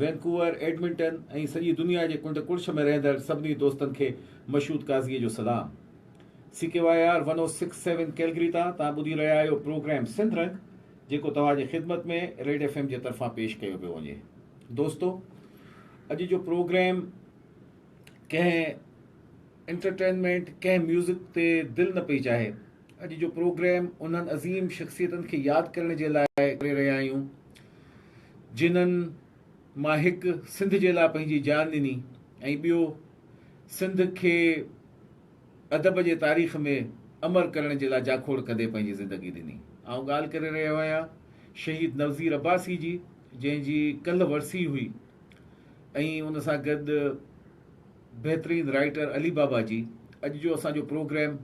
Vancouver, Edmonton ۽ سڄي دنيا جي ڪنڊ ڪڙڇ ۾ رهندڙ سڀني دوستن کي مشهود قاضيء جو سلام. C K Y R one O six seven Calgary تان توهان ٻڌي رهيا آهيو پروگرام سنڌ رنگ جيڪو توهان جي خدمت ۾ ريڊ ايف ايم جي طرفان پيش ڪيو پيو وڃي دوستو اڄ جو پروگرام ڪنهن انٽرٽينمينٽ ڪنهن ميوزڪ تي دل نه پئي چاهي اڄ جو پروگرام انهن عظيم شخصيتن کي ياد ڪرڻ جي لاء ڪري رهيا آهيون جنهن مان هڪ سنڌ جي لاء پنهنجي جان ڏني ۽ ٻيو سنڌ کي ادب جي تاريخ ۾ امر ڪرڻ جي لاء جاکوڙ ڪندي پنهنجي زندگي ڏني آئون ڳالهه ڪري رهيو آهيان شهيد نوزير عباسي جي جنهن جي ڪلهه ورسي هئي ۽ ان سان گڏ بهترين رائيٽر علي بابا جي اڄ جو اسان جو پروگرام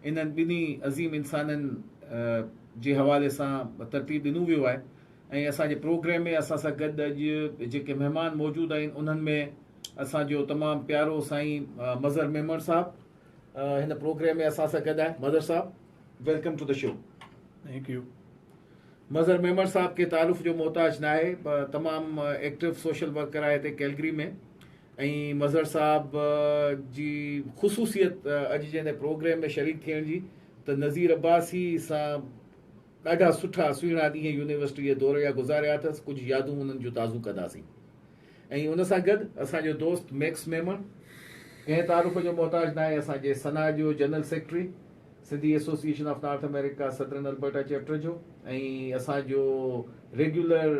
انهن ٻنهي عظيم انسانن جي حوالي سان ترتيب ڏنو ويو آهي ۽ اسان جي پروگرام ۾ اسان سان گڏ اڄ جيڪي مهمان موجود آهن انهن ۾ اسان جو تمام پيارو سائين مظهر ميمڻ صاحب هن پروگرام ۾ اسان سان گڏ آهي Mazhar Sahab welcome to the show thank you Mazhar Memon Sahab کي تعارف جو محتاج ناهي تمام ايڪٽو سوشل ورڪر آهي هتي ڪيلگري ۾ ۽ مظهر صاحب جي خصوصيت اڄ جي هن پروگريم ۾ شريڪ ٿيڻ جي ته نظير عباسي سان ڏاڍا سٺا سهڻا ڏينهن يونيورسٽي جي دور جا گذاريا اٿس ڪجهه يادون انهن جون تازو ڪنداسين ۽ ان سان گڏ اسان جو دوست ميڪس ميمڻ ڪنهن تعارف جو محتاج ناهي اسان جي سنا جو general secretary Sindhi association of north America southern Alberta chapter جو ۽ اسان جو regular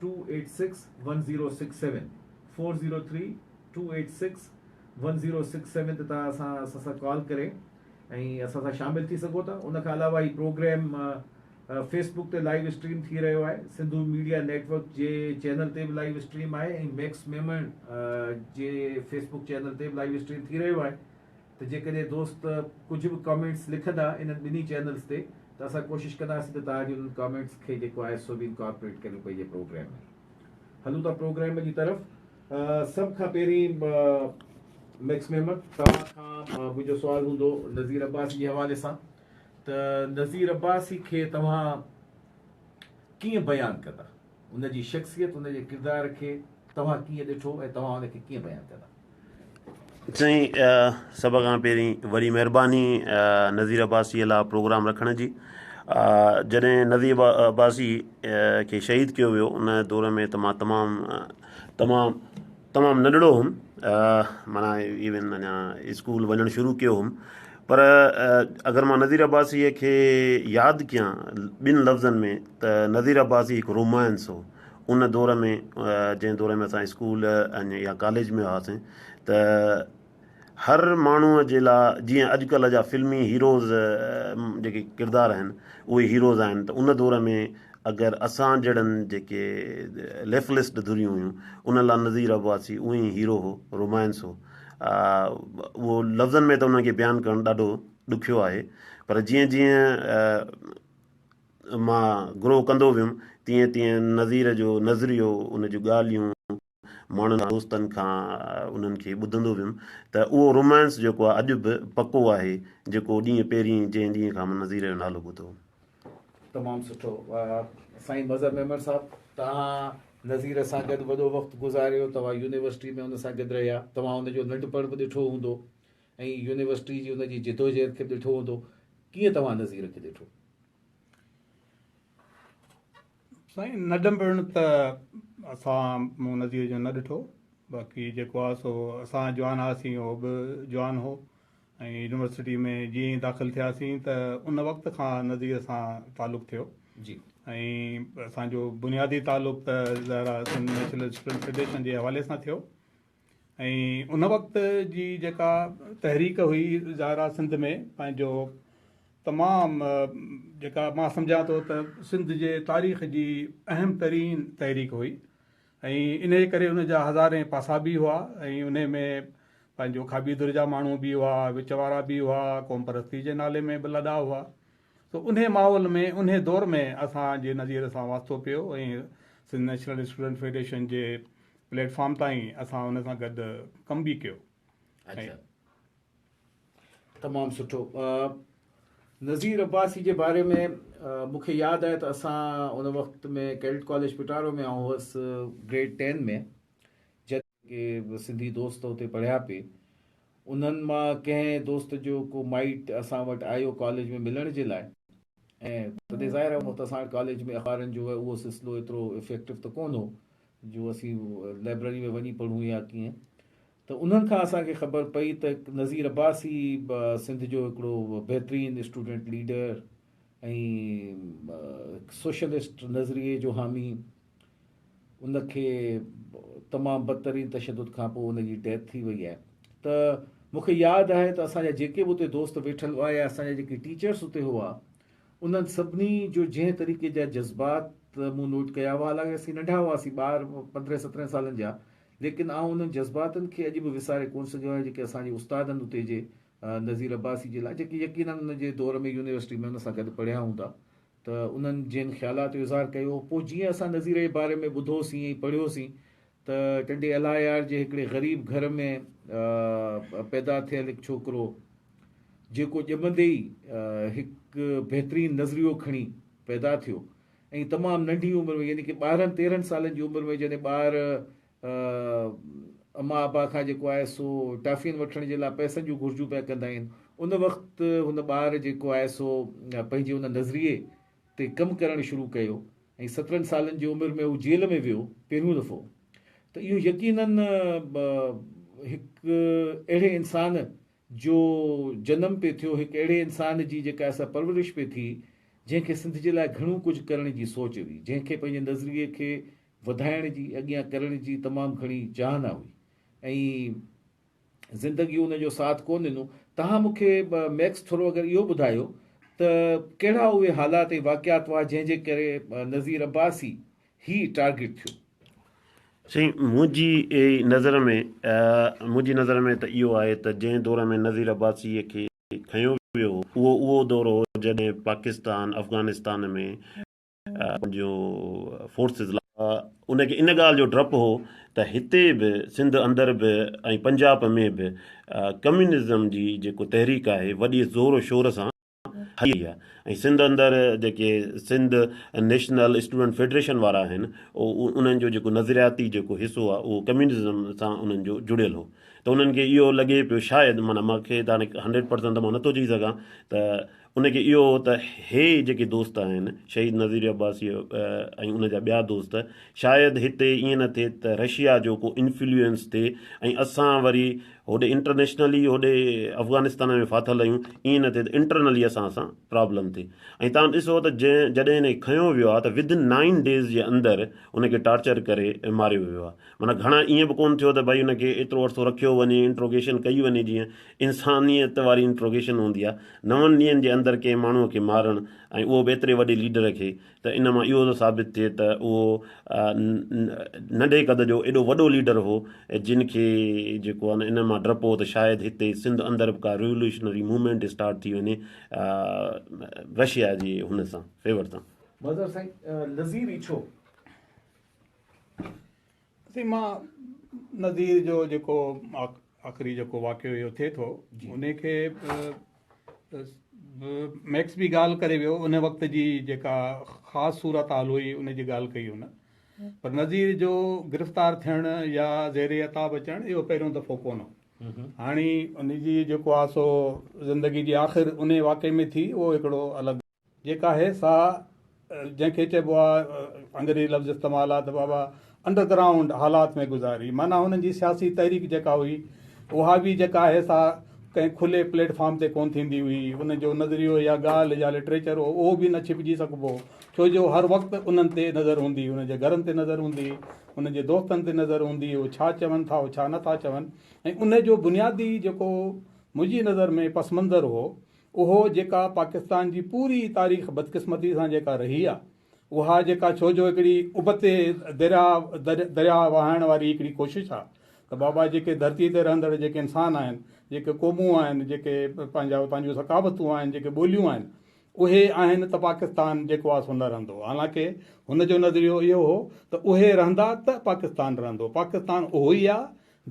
Two-eight-six-one-zero-six-seven، Four Zero Three Two Eight Six One Zero Six Seven تي توهان اسان اسان سان ڪال ڪري ۽ اسان سان شامل ٿي سگهو ٿا ان کان علاوه هي پروگرام فيس بڪ تي لائيو اسٽريم ٿي رهيو آهي سنڌو ميڊيا نيٽ ورڪ جي چينل تي به لائيو اسٽريم آهي ۽ ميڪس ميمڻ جي فيس بڪ چينل تي به لائيو اسٽريم ٿي رهيو آهي ته جيڪڏهن دوست ڪجهه به ڪامينٽس لکندا انهن ٻنهي چينلز تي ته اسان ڪوشش ڪنداسين ته تهانجي انهن ڪامينٽس کي جيڪو آهي سو به انڪارپوريٽ ڪريون پنهنجي پروگرام ۾ هلون ٿا پروگرام جي طرف سڀ کان پهرين ميڪس محمد توهان کان منهنجو سوال هوندو نذير عباسي جي حوالي سان ته نذير عباسي کي توهان ڪيئن بيان ڪندا ان جي شخصيت، ان جي ڪردار کي توهان ڪيئن ڏٺو ۽ توهان ان کي ڪيئن بيان ڪندا؟ سائين سڀ کان پهرين وڏي مهرباني نظير عباسي لا پروگرام رکڻ جي جڏهن نظير عباسي کي شهيد ڪيو ويو ان دور ۾ ته مان تمام تمام تمام ننڍڙو ھوم معنيٰ ايون اڃا اسڪول وڃڻ شروع ڪيو ھوم پر اگر مان نذير عباسيء کي ياد ڪيان ٻن لفظن ۾ ته نذير عباسي ھڪ رومانس ھو ان دور ۾ جنھن دور ۾ اسان اسڪول ۽ يا ڪاليج ۾ ھئاسين ته هر ماڻهوء جي لاء جيئن اڄڪلهه جا فلمي هيروز جيڪي ڪردار آهن اهي هيروز آهن ته ان دور ۾ اگر اسان جهڙن جيڪي ليفلسٽ ڌريون هيون انهن لاء نذير عباسي اهو ئي هيرو هو رومانس هو اهو لفظن ۾ ته انهن کي بيان ڪرڻ ڏاڍو ڏکيو آهي پر جيئن جيئن مان گروهه ڪندو ويم تيئن تيئن نذير جو نظريو ان جون ڳالهيون ماڻهن دوستن کان انهن کي ٻڌندو ويم ته اهو رومانس جيڪو آهي اڄ به پڪو آهي جيڪو ڏينهن پهرين جنهن ڏينهن کان مان نظيري جو نالو ٻڌو هو. تمام سٺو سائين مظهر ميمڻ صاحب توهان نظير سان گڏ وڏو وقت گذاريو توهان يونيورسٽي ۾ ان سان گڏ رهيا توهان ان جو ننڍپڻ به ڏٺو هوندو ۽ يونيورسٽي جي ان جي جدوجهد کي به ڏٺو هوندو ڪيئن توهان نظير کي ڏٺو؟ سائين نه ڏنڀڻ ته اسان مون نظير جو نه ڏٺو باقي جيڪو آهي سو اسان جوان هئاسين هو به جوان هو ۽ يونيورسٽي ۾ جيئن ئي داخل ٿياسين ته ان وقت کان نظير سان تعلق ٿيو جي ۽ اسانجو بنيادي تعلق ته ظاهر آهي سنڌ نيشنل اسٽوڊنٽ فيڊريشن جي حوالي سان ٿيو ۽ ان وقت جي جيڪا تحريڪ هئي ظاهرا سنڌ ۾ پنهنجو تمام جيڪا مان سمجهان ٿو ته سنڌ جي تاريخ جي اهم ترين تحريڪ هئي ۽ انهي ڪري ان جا هزارين پاسا به هئا ۽ انهي ۾ پنهنجو کاٻي ڌر جا ماڻهو به هئا وچ وارا به هئا قوم پرستي جي نالي ۾ به لڏا هئا سو انهي ماحول ۾ انهي دور ۾ اسان جي نظير سان واسطو پيو ۽ سنڌ نيشنل اسٽوڊنٽ فيڊريشن جي پليٽ فارم تائين اسان ان سان گڏ ڪم به ڪيو. اچا تمام سٺو نظير عباسي جي باري ۾ مون کي ياد آهي ته اسان ان وقت ۾ ڪيڊٽ ڪاليج پٽارو ۾ آئون هوس گريڊ ٽين ۾ جڏهن ڪي سنڌي دوست اتي پڙهيا پي انهن مان ڪنهن دوست جو ڪو مائٽ اسان وٽ آيو ڪاليج ۾ ملڻ جي لاء ۽ تڏهن ظاهر آهي ان وقت اسان وٽ ڪاليج ۾ اخبارن جو اهو سلسلو ايترو افيڪٽو ته ڪونه هو جو اسين لائبرري ۾ وڃي پڙهون يا ڪيئن ته انهن کان اسان کي خبر پئي ته نظير عباسي سنڌ جو هڪڙو بهترين اسٽوڊنٽ ليڊر ۽ سوشلسٽ نظريي جو حامي ان کي تمام بدترين تشدد کان پوء ان جي ڊيٿ ٿي وئي آهي ته مون کي ياد آهي ته اسان جا جيڪي به اتي دوست ويٺل هئا يا اسان جا جيڪي ٽيچرس اتي هئا انهن سڀني جو جنهن طريقي جا جذبات مون نوٽ ڪيا هئا حالانڪ اسين ننڍا هئاسين ٻار پندرهن سترهن سالن جا ليڪن آئون انهن جذباتن کي اڄ به وساري ڪون سگهيو آهيان جيڪي اسان جي استادن اتي جي نذير عباسي جي لاء جيڪي يقينن ان جي دور ۾ يونيورسٽي ۾ ان سان گڏ پڙهيا هوندا ته انهن جن خيالات جو اظهار ڪيو هو پوء جيئن اسان نذير جي باري ۾ ٻڌو سين ۽ پڙهيو سين ته ٽنڊي الاهيار جي هڪڙي غريب گهر ۾ پيدا ٿيل هڪ ڇوڪرو جيڪو ڄمندي ئي هڪ بهترين نظريو کڻي پيدا ٿيو ۽ تمام ننڍي عمر ۾ يعني ڪي ٻارهن تيرهن سالن جي عمر ۾ جڏهن ٻار اما ابا کان جيڪو آهي سو ٽافين وٺڻ جي لاء پئسن جون گهرجون پيا ڪندا آهن ان وقت هن ٻار جيڪو آهي سو پنهنجي ان نظريي تي ڪم ڪرڻ شروع ڪيو ۽ سترهن سالن جي عمر ۾ هو جيل ۾ ويو پهريون دفعو ته اهو يقينن هڪ اهڙي انسان جو جنم پي ٿيو هڪ اهڙي انسان جي جيڪا اسا پرورش پي ٿي جنهن کي سنڌ جي لاء گهڻو ڪجهه ڪرڻ جي سوچ هئي جنهن کي پنهنجي نظريي کي وڌائڻ جي، اڳيان ڪرڻ جي تمام گهڻي چاهنا هئي ۽ زندگي ان جو ساٿ ڪونه ڏنو. تهان مون کي ميڪس ٿورو اگر اهو ٻڌايو ته ڪهڙا اهي حالات ۽ واقعات هئا جنهن جي ڪري نذير عباسي هي ٽارگيٽ ٿيو. سائين منهنجي نظر ۾ منهنجي نظر ۾ ته اهو آهي ته جنهن دور ۾ نذير عباسي کي کنيو ويو هو اهو اهو دور هو جڏهن پاڪستان افغانستان ۾ پنهنجون فورسز لاء ان کي ان ڳالهه جو ڊپ هو ته هتي به سنڌ اندر به ۽ پنجاب ۾ به ڪميونزم جي جيڪو تحريڪ آهي وڏي زور و شور سان هلي رهي آهي ۽ سنڌ اندر جيڪي سنڌ نيشنل اسٽوڊنٽ فيڊريشن وارا آهن انهن جو جيڪو نظرياتي جيڪو حصو آهي اهو ڪميونزم سان انهن جو جڙيل هو ته انهن کي اهو لڳي پيو شايد معنيٰ مونکي هاڻي هنڊريڊ پرسنٽ ته مان نٿو چئي سگهان ته ان کي اهو هو ته هي جيڪي دوست آهن، شهيد نظير عباسيء ۽ ان جا ٻيا دوست، شايد هتي ائين نه ٿئي ته رشيا جو ڪو انفلوئنس ٿئي ۽ اسان وري هوڏي انٽرنيشنلي هوڏي افغانستان ۾ ڦاٿل آهيون، ائين نه ٿئي ته انٽرنلي اسان سان پرابلم ٿئي ۽ تان ڏسو ته جڏهن ان کي کنيو ويو آهي ته ودن نائن ڊيز جي اندر ان کي ٽارچر ڪري ماريو ويو آهي. معنيٰ گهڻا ائين به ڪونه ٿيو ته ڀائي ان کي ايترو عرصو رکيو وڃي، انٽروگيشن ڪئي وڃي جيئن. انسانيت واري انٽروگيشن هوندي آ نون ڏينهن جي اندر ڪنهن ماڻهو کي مارڻ ۽ اهو به ايتري وڏي ليڊر کي ته ان مان اهو ٿو ثابت ٿئي ته اهو ننڍي قد جو ايڏو وڏو ليڊر هو جن کي جيڪو آ ان مان ڊپ هو ته شايد هتي سنڌ اندر به ڪا ريوليوشنري موومينٽ اسٽارٽ ٿي وڃي رشيا جي هن سان فيور سان مظهر سائين نظير ايڇو اسين مان نظير جو جيڪو آخري جيڪو واقعو اهو ٿئي ٿو ان کي ميڪس به ڳالهه ڪري ويو ان وقت جي جيڪا خاص صورت حال هئي ان جي ڳالهه ڪئي هن پر نظير جو گرفتار ٿيڻ يا زير عتاب اچڻ اهو پهريون دفعو ڪون هو هاڻي ان جي جيڪو آسو زندگي جي آخر ان واقعي ۾ ٿي اهو هڪڙو الڳ جيڪا آهي سا جنهن کي چئبو آهي انگريزي لفظ استعمال آهي ته بابا انڊر گرائونڊ حالات ۾ گذاري معنيٰ هنن جي سياسي تحريڪ جيڪا هئي اها به جيڪا آهي سا ڪنهن کلي پليٽ فارم تي ڪونه ٿيندي هئي ان جو نظريو يا ڳالهه يا لٽريچر هو اهو به نه ڇپجي سگهبو ڇو جو هر وقت انهن تي نظر هوندي ان جي گهرن تي نظر هوندي ان جي دوستن تي نظر هوندي هو ڇا چون ٿا هو ڇا نٿا چون ۽ ان جو بنيادي جيڪو منهنجي نظر ۾ پس منظر هو اهو جيڪا پاڪستان جي پوري تاريخ بدقسمتي سان جيڪا رهي آ اها جيڪا ڇو جو هڪڙي ابتي دريا دريا وهائڻ واري هڪڙي ڪوشش آ ته بابا جيڪي ڌرتي تي رهندڙ جيڪي انسان آهن جيڪي قومون آهن جيڪي پنهنجا پنهنجون ثقافتون آهن جيڪي ٻوليون آهن اهي آهن ته پاڪستان جيڪو آ سو نه رهندو حالانڪه هن جو نظريو اهو هو ته اهي رهندا ته پاڪستان رهندو پاڪستان اهو ئي آ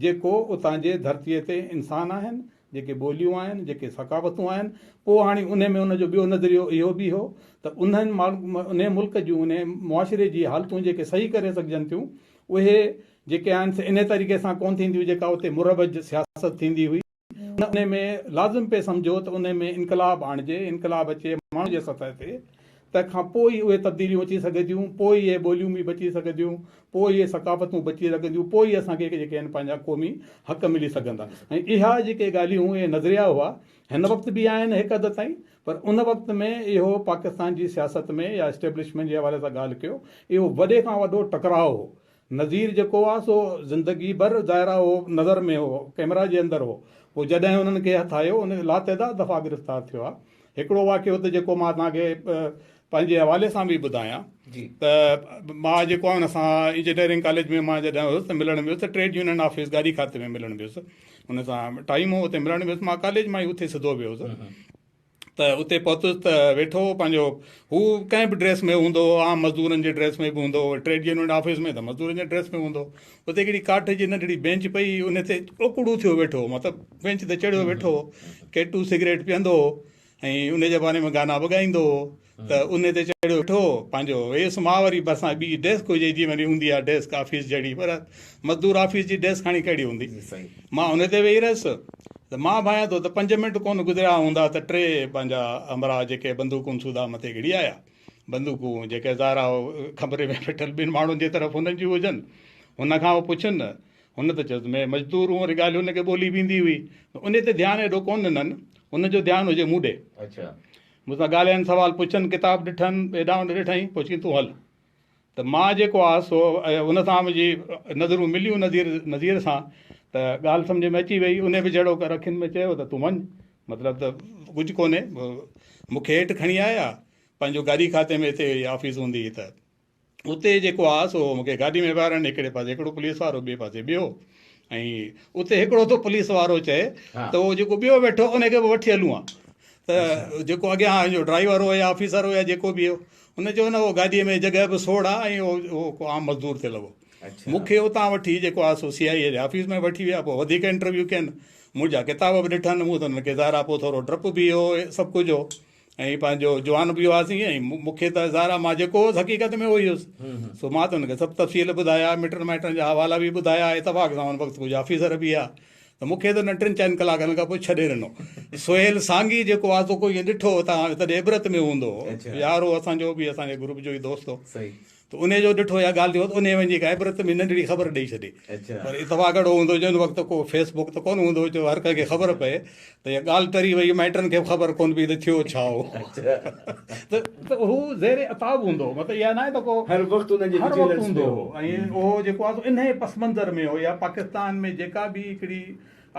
جيڪو اتان جي ڌرتي تي انسان آهن جيڪي ٻوليون آهن، جيڪي ثقافتون آهن، پوء هاڻي انهي ۾ ان جو ٻيو نظريو اهو به هو ته انهن انهي ملڪ جون انهي معاشري جي حالتون جيڪي صحيح ڪري سگهجن ٿيون اهي جيڪي آهن سي انهي طريقي سان ڪونه ٿينديون جيڪا اتي مروج سياست ٿيندي هئي انهي ۾ لازم پئي سمجهو ته انهي ۾ انقلاب آڻجي، انقلاب اچي ماڻهن جي سطح تي. تنهن کان پوء ئي اهي تبديليون اچي سگهنديون، پوء ئي اهي ٻوليون به بچي سگهنديون، پوء ئي اهي ثقافتون بچي سگهنديون، پوء ئي اسان کي جيڪي آهن پنهنجا قومي حق ملي سگهندا. ۽ اها جيڪي ڳالهيون، اهي نظريا هئا، هن وقت به آهن هڪ حد تائين، پر ان وقت ۾ اهو پاڪستان جي سياست ۾ يا اسٽيبلشمينٽ جي حوالي سان ڳالهه ڪيو، اهو وڏي کان وڏو ٽڪراء هو، نذير جيڪو هو سو زندگي ڀر ظاهر آهي اهو نظر ۾ هو ڪئميرا جي اندر هو پوء جڏهن انهن کي هٿ آيو ان لاتعداد دفعا گرفتار ٿيو آهي هڪڙو واقعو ته جيڪو مان توهان کي پنهنجي حوالي سان به ٻڌايان ته مان جيڪو آهي ان سان انجنيئرنگ ڪاليج ۾ مان جڏهن هيس ته ملڻ ويس ته ٽريڊ يونين آفيس گاڏي کاتي ۾ ملڻ ويس ان سان ٽائيم هو اتي ملڻ ويس مان ڪاليج مان ئي اٿي سڌو ويو هوس ته اتي پهتس ته ويٺو هو پنهنجو هو ڪنهن به ڊريس ۾ هوندو هو عام مزدورن جي ڊريس ۾ به هوندو هو ٽريڊ يونين آفيس ۾ ته مزدورن جي ڊريس ۾ هوندو هو اتي هڪڙي ڪاٺ جي ننڍڙي بينچ پئي ان تي اوڪڙو ٿيو ويٺو هو مطلب بينچ تي چڙهيو ويٺو هو ڪيٽو سگريٽ پيئندو هو ۽ ان جي باري ۾ گانا به ڳائيندو هو ته انهي تي چڙهيو ويٺو هو پنهنجو ويس ماء وري ڀرسان ٻي ڊيسڪ هجي جي وني هوندي آ ڊيسڪ آفيس جهڙي پر مزدور آفيس جي ڊيسڪ هاڻي ڪهڙي هوندي مان انهي تي ويهي رهيس ته مان ڀانيان ٿو ته پنج منٽ ڪونه گذريا هوندا ته ٽي پنهنجا همراهه جيڪي بندوقن سوڌا مٿي گهڙي آيا بندوقون جيڪي ظاهرا کمري ۾ ويٺل ٻن ماڻهن جي طرف هنن جون هجن هن کان هو پڇن هن ته چيس مي مزدور هون وري ڳالهيون هن کي ٻولي به ايندي هئي انهي تي ڌيان ايڏو ڪونه ڏنن هن جو ڌيان هجي مون ڏي مون سان ڳالهين، سوال پڇن، ڪتاب ڏٺن، هيڏانهن هوڏانهن ڏٺائين، پوء چيائين تون هل. ته مان جيڪو آس سو ان سان منهنجي نظرون مليون نظير نظير سان ته ڳالهه سمجهه ۾ اچي ويئي. انهي به جهڙو ڪر اکين ۾ چيو ته تون وڃ. مطلب ته ڪجهه ڪونهي. مون کي هيٺ کڻي آيا. پنهنجو گاڏي کاتي ۾ هتي آفيس هوندي هئي ته. اتي جيڪو آ سو مونکي گاڏي ۾ ويهارائڻ هڪڙي پاسي هڪڙو پوليس وارو ٻئي پاسي ٻيو ۽ اتي هڪڙو ٿو پوليس وارو چئي ته اهو جيڪو ٻيو ويٺو ان کي به وٺي هلون آ ته جيڪو اڳيان جو ڊرائيور هو يا آفيسر هو يا جيڪو به هو ان چيو نه اهو گاڏيء ۾ جڳهه به سوڙ آ ۽ اهو ڪو عام مزدور تي لڳو مونکي اتان وٺي جيڪو آ سو سي آء اي جي آفيس ۾ وٺي ويا پوء وڌيڪ انٽرويو ڪين منهنجا ڪتاب به ڏٺن مون ته هن کي ظاهر آ پوء ٿورو ڊپ به هو سڀ ڪجهه هو ۽ پنهنجو جوان به هئاسين ۽ مون کي ته ظاهر آهي مان جيڪو هوس حقيقت ۾ اهو ئي هوس سو مان ته هن کي سڀ تفصيل ٻڌايا مٽن مائٽن جا حوالا به ٻڌايا اتفاق سان هن وقت ڪجهه آفيسر به هئا ته مون کي ته هن ٽن چئن ڪلاڪن کان پوء ڇڏي ڏنو سهيل سانگي جيڪو آزو ڪو ائين ڏٺو تان تڏهن عبرت ۾ هوندو يار هو اسانجو به اسانجي گروپ جو ئي دوست هو ته انهيء جو ڏٺو يا ڳالهيو ته انهيء وڃي هڪ عبرت ۾ ننڍڙي خبر ڏئي ڇڏي. پر اتفاق اهڙو هوندو هو جو ان وقت ڪو فيس بڪ ته ڪونه هوندو هو جو هر ڪنهن کي خبر پئي ته اها ڳالهه ٽري وئي، مائٽن کي به خبر ڪونه پئي ته ٿيو ڇا هو. ته هو زير عتاب هوندو هو، مطلب اها ناهي ته ڪو هر وقت هوندو هو ۽ اهو جيڪو آهي سو انهيء پس منظر ۾ هو يا پاڪستان ۾ جيڪا به هڪڙي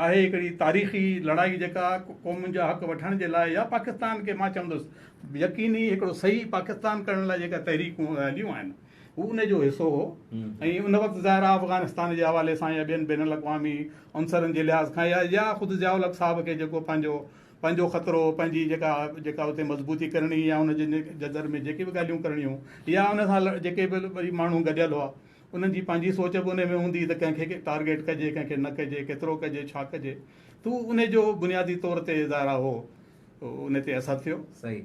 آهي هڪڙي تاريخي لڙائي جيڪا قومن جا حق وٺڻ جي لاء يا پاڪستان کي مان چوندس يقيني هڪڙو صحيح پاڪستان ڪرڻ لاء جيڪا تحريڪون هليون آهن هو ان جو حصو هو ۽ ان وقت ظاهر آهي افغانستان جي حوالي سان يا ٻين بين الاقوامي عنصرن جي لحاظ کان يا يا خود ضياء الحق صاحب کي جيڪو پنهنجو پنهنجو خطرو پنهنجي جيڪا جيڪا اتي مضبوطي ڪرڻي يا ان جي جدر ۾ جيڪي به ڳالهيون ڪرڻيون يا ان سان جيڪي به وري ماڻهو گڏيل هئا انهن جي پنهنجي سوچ به انهي ۾ هوندي ته ڪنهن کي ٽارگيٽ ڪجي ڪنهن کي نه ڪجي ڪيترو ڪجي ڇا ڪجي ته اهو انهي جو بنيادي طور تي ظاهرا اهو انهي تي اثر ٿيو. صحيح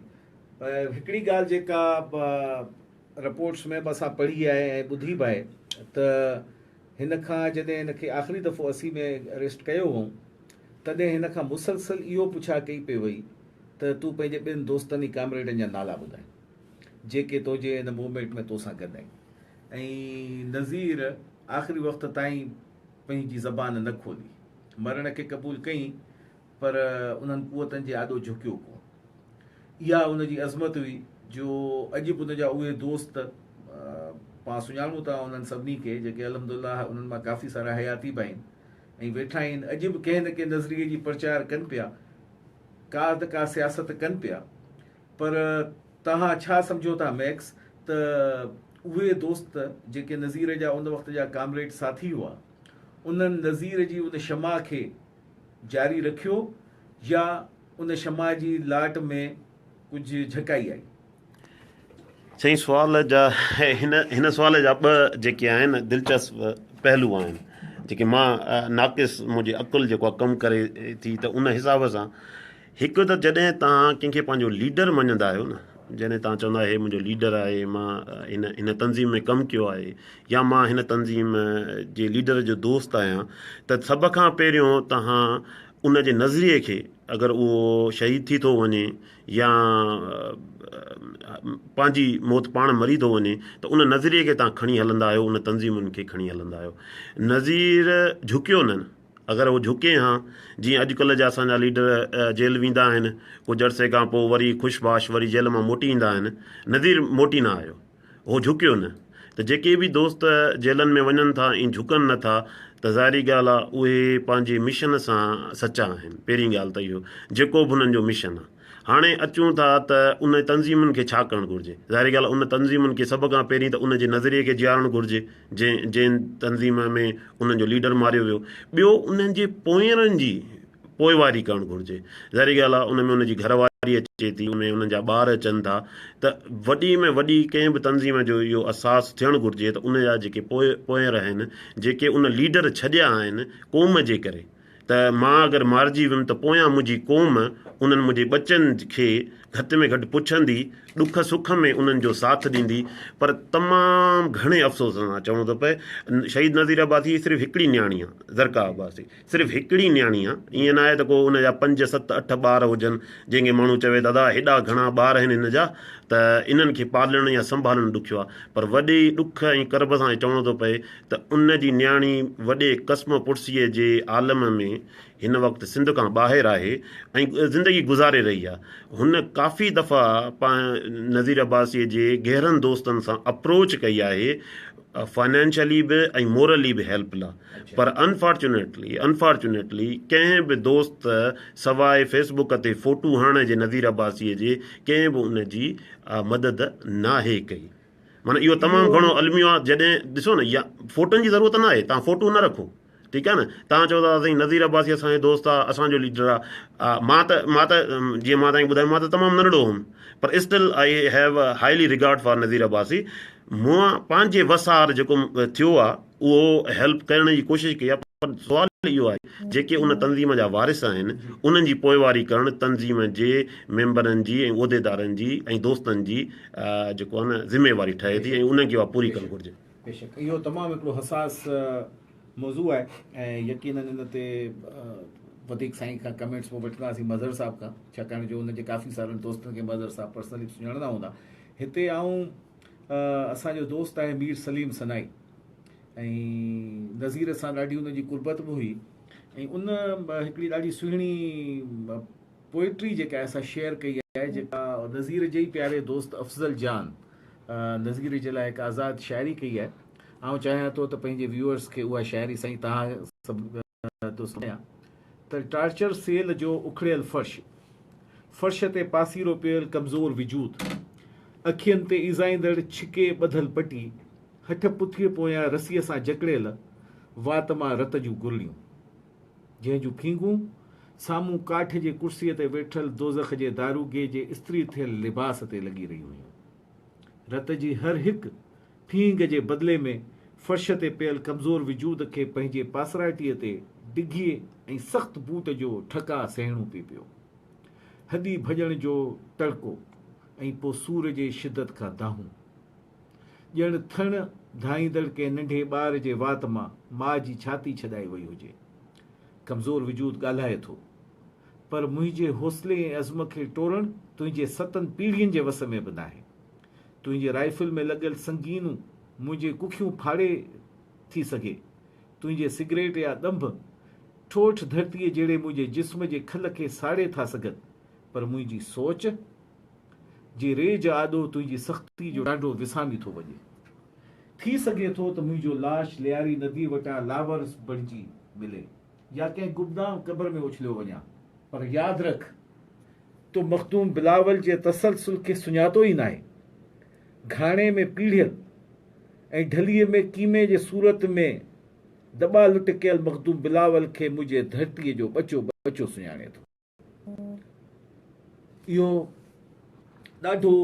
پر هڪڙي ڳالهه جيڪا رپورٽس ۾ به اسان پڙهي آهي ۽ ٻڌي به آهي ته هن کان جڏهن هن کي آخري دفعو اسي ۾ اريسٽ ڪيو هئون تڏهن هن کان مسلسل اهو پڇا ڪئي پئي وئي ته تون پنهنجي ٻين دوستن ۽ ڪامريڊن جا نالا ٻڌائين جيڪي تنهنجي ان موومينٽ ۾ تو سان گڏ آهن ۽ نذير آخري وقت تائين پنهنجي زبان نه کولي. مرڻ کي قبول ڪيئين پر انهن قوتن جي آڏو جهڪيو ڪونه. اها ان جي عظمت هئي جو اڄ به ان جا اهي دوست پان سڃاڻون ٿا انهن سڀني کي جيڪي الحمد الله انهن مان ڪافي سارا حياتي به آهن ۽ ويٺا آهن اڄ به ڪنهن نه ڪنهن نظريي جي پرچار ڪن پيا ڪا ته ڪا سياست ڪن پيا پر توهان ڇا سمجهو ٿا ميڪس ته اهي دوست جيڪي نذير جا ان وقت جا ڪامريڊ ساٿي هئا انهن نذير جي ان شمع کي جاري رکيو يا ان شمع جي لاٽ ۾ ڪجهه جهڪائي آئي. سائين سوال جا هن هن سوال جا ٻه جيڪي آهن دلچسپ پهلو آهن جيڪي مان ناقص منهنجي عقل جيڪو ڪم ڪري ٿي ته ان حساب سان هڪ ته جڏهن توهان ڪنهن کي پنهنجو ليڊر مڃندا آهيو نه جڏهن توهان چوندا آهيو هي منهنجو ليڊر آهي مان هن هن تنظيم ۾ ڪم ڪيو آهي يا مان هن تنظيم جي ليڊر جو دوست آهيان ته سڀ کان پهريون توهان ان جي نظريي کي اگر اهو شهيد ٿي ٿو وڃي يا پنهنجي موت پاڻ مري ٿو وڃي ته ان نظريي کي توهان کڻي هلندا آهيو ان تنظيمن کي کڻي هلندا آهيو نظير جهڪيو نن اگر هو جهڪين ها جيئن اڄڪلهه جا اسان جا ليڊر جيل ويندا آهن ڪجهه عرصي کان پوء وري خوش باش وري جيل مان موٽي ايندا آهن نذير موٽي نه آيو هو جهڪيو نه ته جيڪي به دوست جيلن ۾ وڃن ٿا ۽ جهڪن نه ٿا ته ظاهري ڳالهه آهي اهي پنهنجي مشن سان سچا آهن پهرين ڳالهه ته اهو جيڪو به انهن جو مشن آهي هاڻي اچون ٿا ته ان تنظيمن کي ڇا ڪرڻ گهرجي. ظاهري ڳالهه ان تنظيمن کي سڀ کان پهرين ته ان جي نظريي کي جيارڻ گهرجي جنهن جنهن تنظيم ۾ انهن جو ليڊر ماريو ويو. ٻيو انهن جي پوئيرن جي پوئواري ڪرڻ گهرجي. ظاهري ڳالهه آهي ان ۾ ان جي گهر واري اچي ٿي ان ۾ انهن جا ٻار اچن ٿا ته وڏي ۾ وڏي ڪنهن به تنظيم جو اهو احساس ٿيڻ گهرجي ته ان جا جيڪي پوئير آهن جيڪي ان ليڊر ڇڏيا آهن قوم جي ڪري ته مان اگر مارجي ويم ته پويان منهنجي قوم انهن منهنجي ٻچن کي گهٽ ۾ گهٽ پڇندي، ڏک سک ۾ انهن جو ساٿ ڏيندي پر تمام گهڻي افسوس سان چوڻو ٿو پئي شهيد نذير عباسي جي صرف هڪڙي نياڻي آ زرقا عباسي صرف هڪڙي نياڻي آ ائين ناهي ته ڪو ان جا پنج ست اٺ ٻار هجن جنهن کي ماڻهو چوي ته ادا هيڏا گهڻا ٻار آهن هن جا ته انهن کي پالڻ يا سنڀالڻ ڏکيو آ پر وڏي ڏک ۽ ڪرب سان چوڻو ٿو پئي ته ان جي نياڻي وڏي قسم پڙسيء جي عالم ۾ هن وقت سنڌ کان ٻاهر آهي ۽ زندگي گذاري رهي آهي. هن ڪافي دفعا پا نذير عباسيء جي گهرن دوستن سان اپروچ ڪئي آهي فنانشلي به ۽ مورلي به هيلپ لا پر انفارچونيٽلي Unfortunately ڪنهن به دوست سواء فيس بوڪ تي فوٽو هڻڻ جي نذير عباسيء جي ڪنهن به ان جي مدد ناهي ڪئي. معنيٰ اهو تمام گهڻو الميو آهي جڏهن ڏسو نه يا فوٽن جي ضرورت ناهي توهان فوٽو نه رکو ٺيڪ آهي نه توهان چئو ٿا سائين نظير عباسي اسان جو دوست آهي اسان جو ليڊر آهي مان ته مان ته جيئن مان توهان کي ٻڌايو مان ته تمام ننڍڙو هوم پر still I have highly regard for Nazir Abbasi مون پنهنجي وس آهر جيڪو ٿيو آهي اهو هيلپ ڪرڻ جي ڪوشش ڪئي آهي پر سوال اهو آهي جيڪي ان تنظيم جا وارث آهن انهن جي پوئواري ڪرڻ تنظيم جي ميمبرن جي ۽ عهديدارن جي ۽ دوستن جي جيڪو آهي نه ذميواري ٺهي ٿي ۽ انهن کي اها پوري ڪرڻ گهرجي. بيشڪ اهو تمام هڪڙو حساس موضوع آهي ۽ يقينن ان تي وڌيڪ سائين کان ڪمينٽس پوء وٺنداسين مظهر صاحب کان ڇاڪاڻ جو ان جي ڪافي سارن دوستن کي مظهر صاحب پرسنلي سڃاڻندا هوندا هتي آئون اسان جو دوست آهي مير سليم سنائي ۽ نظير سان ڏاڍي ان جي قربت به هئي ۽ ان هڪڙي ڏاڍي سهڻي پوئٽري جيڪا آهي سا شيئر ڪئي آهي جيڪا نظير جي پياري دوست افضل جان نظير جي لاء هڪ آزاد شاعري ڪئي آهي آئون چاهيان ٿو ته پنهنجي ويورز کي اها شاعري سائين توهان سڀ ٿو سمجهان ته ٽارچر سيل جو اکڙيل فرش، فرش تي پاسيرو پيل ڪمزور وجود، اکين تي ايذائيندڙ ڇڪي ٻڌل پٽي، هٺ پٺيء پويان رسيء سان جڪڙيل وات مان رت جون گرڙيون، جنهن جون ڦينگون سامهون ڪاٺ جي ڪرسيء تي ويٺل دوزخ جي داروغي جي استري ٿيل لباس تي لڳي رهيون هيون. رت جي هر هڪ ڦينگ جي بدلي ۾ فرش تي پيل ڪمزور وجود کي پنهنجي پاسرائتيء تي ڊگهي ۽ سخت بوٽ جو ٺڪاء سهڻو پئي پيو. هڏي ڀڄڻ جو ٽڙڪو ۽ پوء سور جي شدت کان دانهون. ڄڻ ٿڻ ڌائيندڙ ڪنهن ننڍي ٻار جي وات مان ماء جي ڇاتي ڇڏائي وئي هجي. ڪمزور وجود ڳالهائي ٿو، پر منهنجي حوصلي ۽ عزم کي ٽوڙڻ تنهنجي ستن پيڙهين جي وس ۾ به ناهي. تنهنجي رائفل ۾ لڳل سنگينون منهنجي ڪکيون ڦاڙي ٿي سگهي. تنهنجي سگريٽ يا ڏنڀ ٺوٺ ڌرتيء جهڙي منهنجي جسم جي کل کي ساڙي ٿا سگهن، پر منهنجي سوچ جي ريج آڏو تنهنجي سختي جو ٽانڊو وسامي ٿو وڃي. ٿي سگهي ٿو ته منهنجو لاش لياري نديء وٽان لاورس بڻجي ملي. يا ڪنهن گمنام قبر ۾ اڇليو وڃان پر ياد رک تو مخدوم بلاول جي تسلسل کي سڃاتو ئي ناهي. گهاڻي ۾ پيڙهيل ۽ ڍليء ۾ ڪيمي جي صورت ۾ دٻا لٽ ڪيل مخدوم بلاول کي منهنجي ڌرتيء جو ٻچو ٻچو سڃاڻي ٿو. اهو ڏاڍو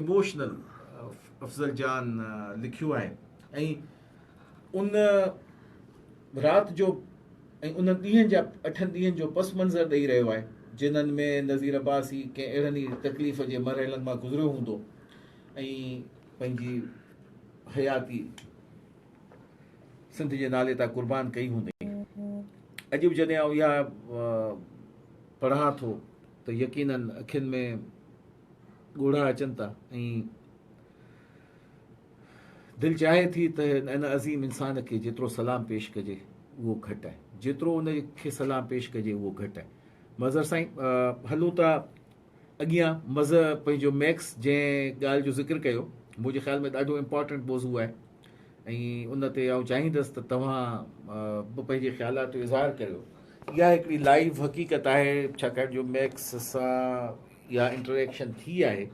اموشنل افضل جان لکيو آهي ۽ ان رات جو ۽ ان ڏينهن جا اٺن ڏينهن جو پس منظر ڏيئي رهيو آهي جنن ۾ نظير عباسي ڪنهن اهڙن ئي تڪليف جي مرحلن مان گذريو هوندو ۽ پنهنجي حياتي سنڌ جي نالي تان قربان ڪئي هوندئين. اڄ به جڏهن آئون اها پڙهان ٿو ته يقينن اکين ۾ ڳوڙها اچن ٿا ۽ دل چاهي ٿي ته ان عظيم انسان کي جيترو سلام پيش ڪجي اهو گهٽ آهي جيترو ان کي سلام پيش ڪجي اهو گهٽ آهي مظهر سائين هلون ٿا اڳيان مزه پنهنجو ميڪس جنهن ڳالهه جو ذڪر ڪيو منهنجي خيال ۾ ڏاڍو امپارٽنٽ موضوع آهي ۽ ان تي آئون چاهيندس ته توهان به پنهنجي خيالات جو اظهار ڪريو اها هڪڙي لائيو حقيقت آهي ڇاڪاڻ جو ميڪس سان اها انٽريڪشن ٿي آهي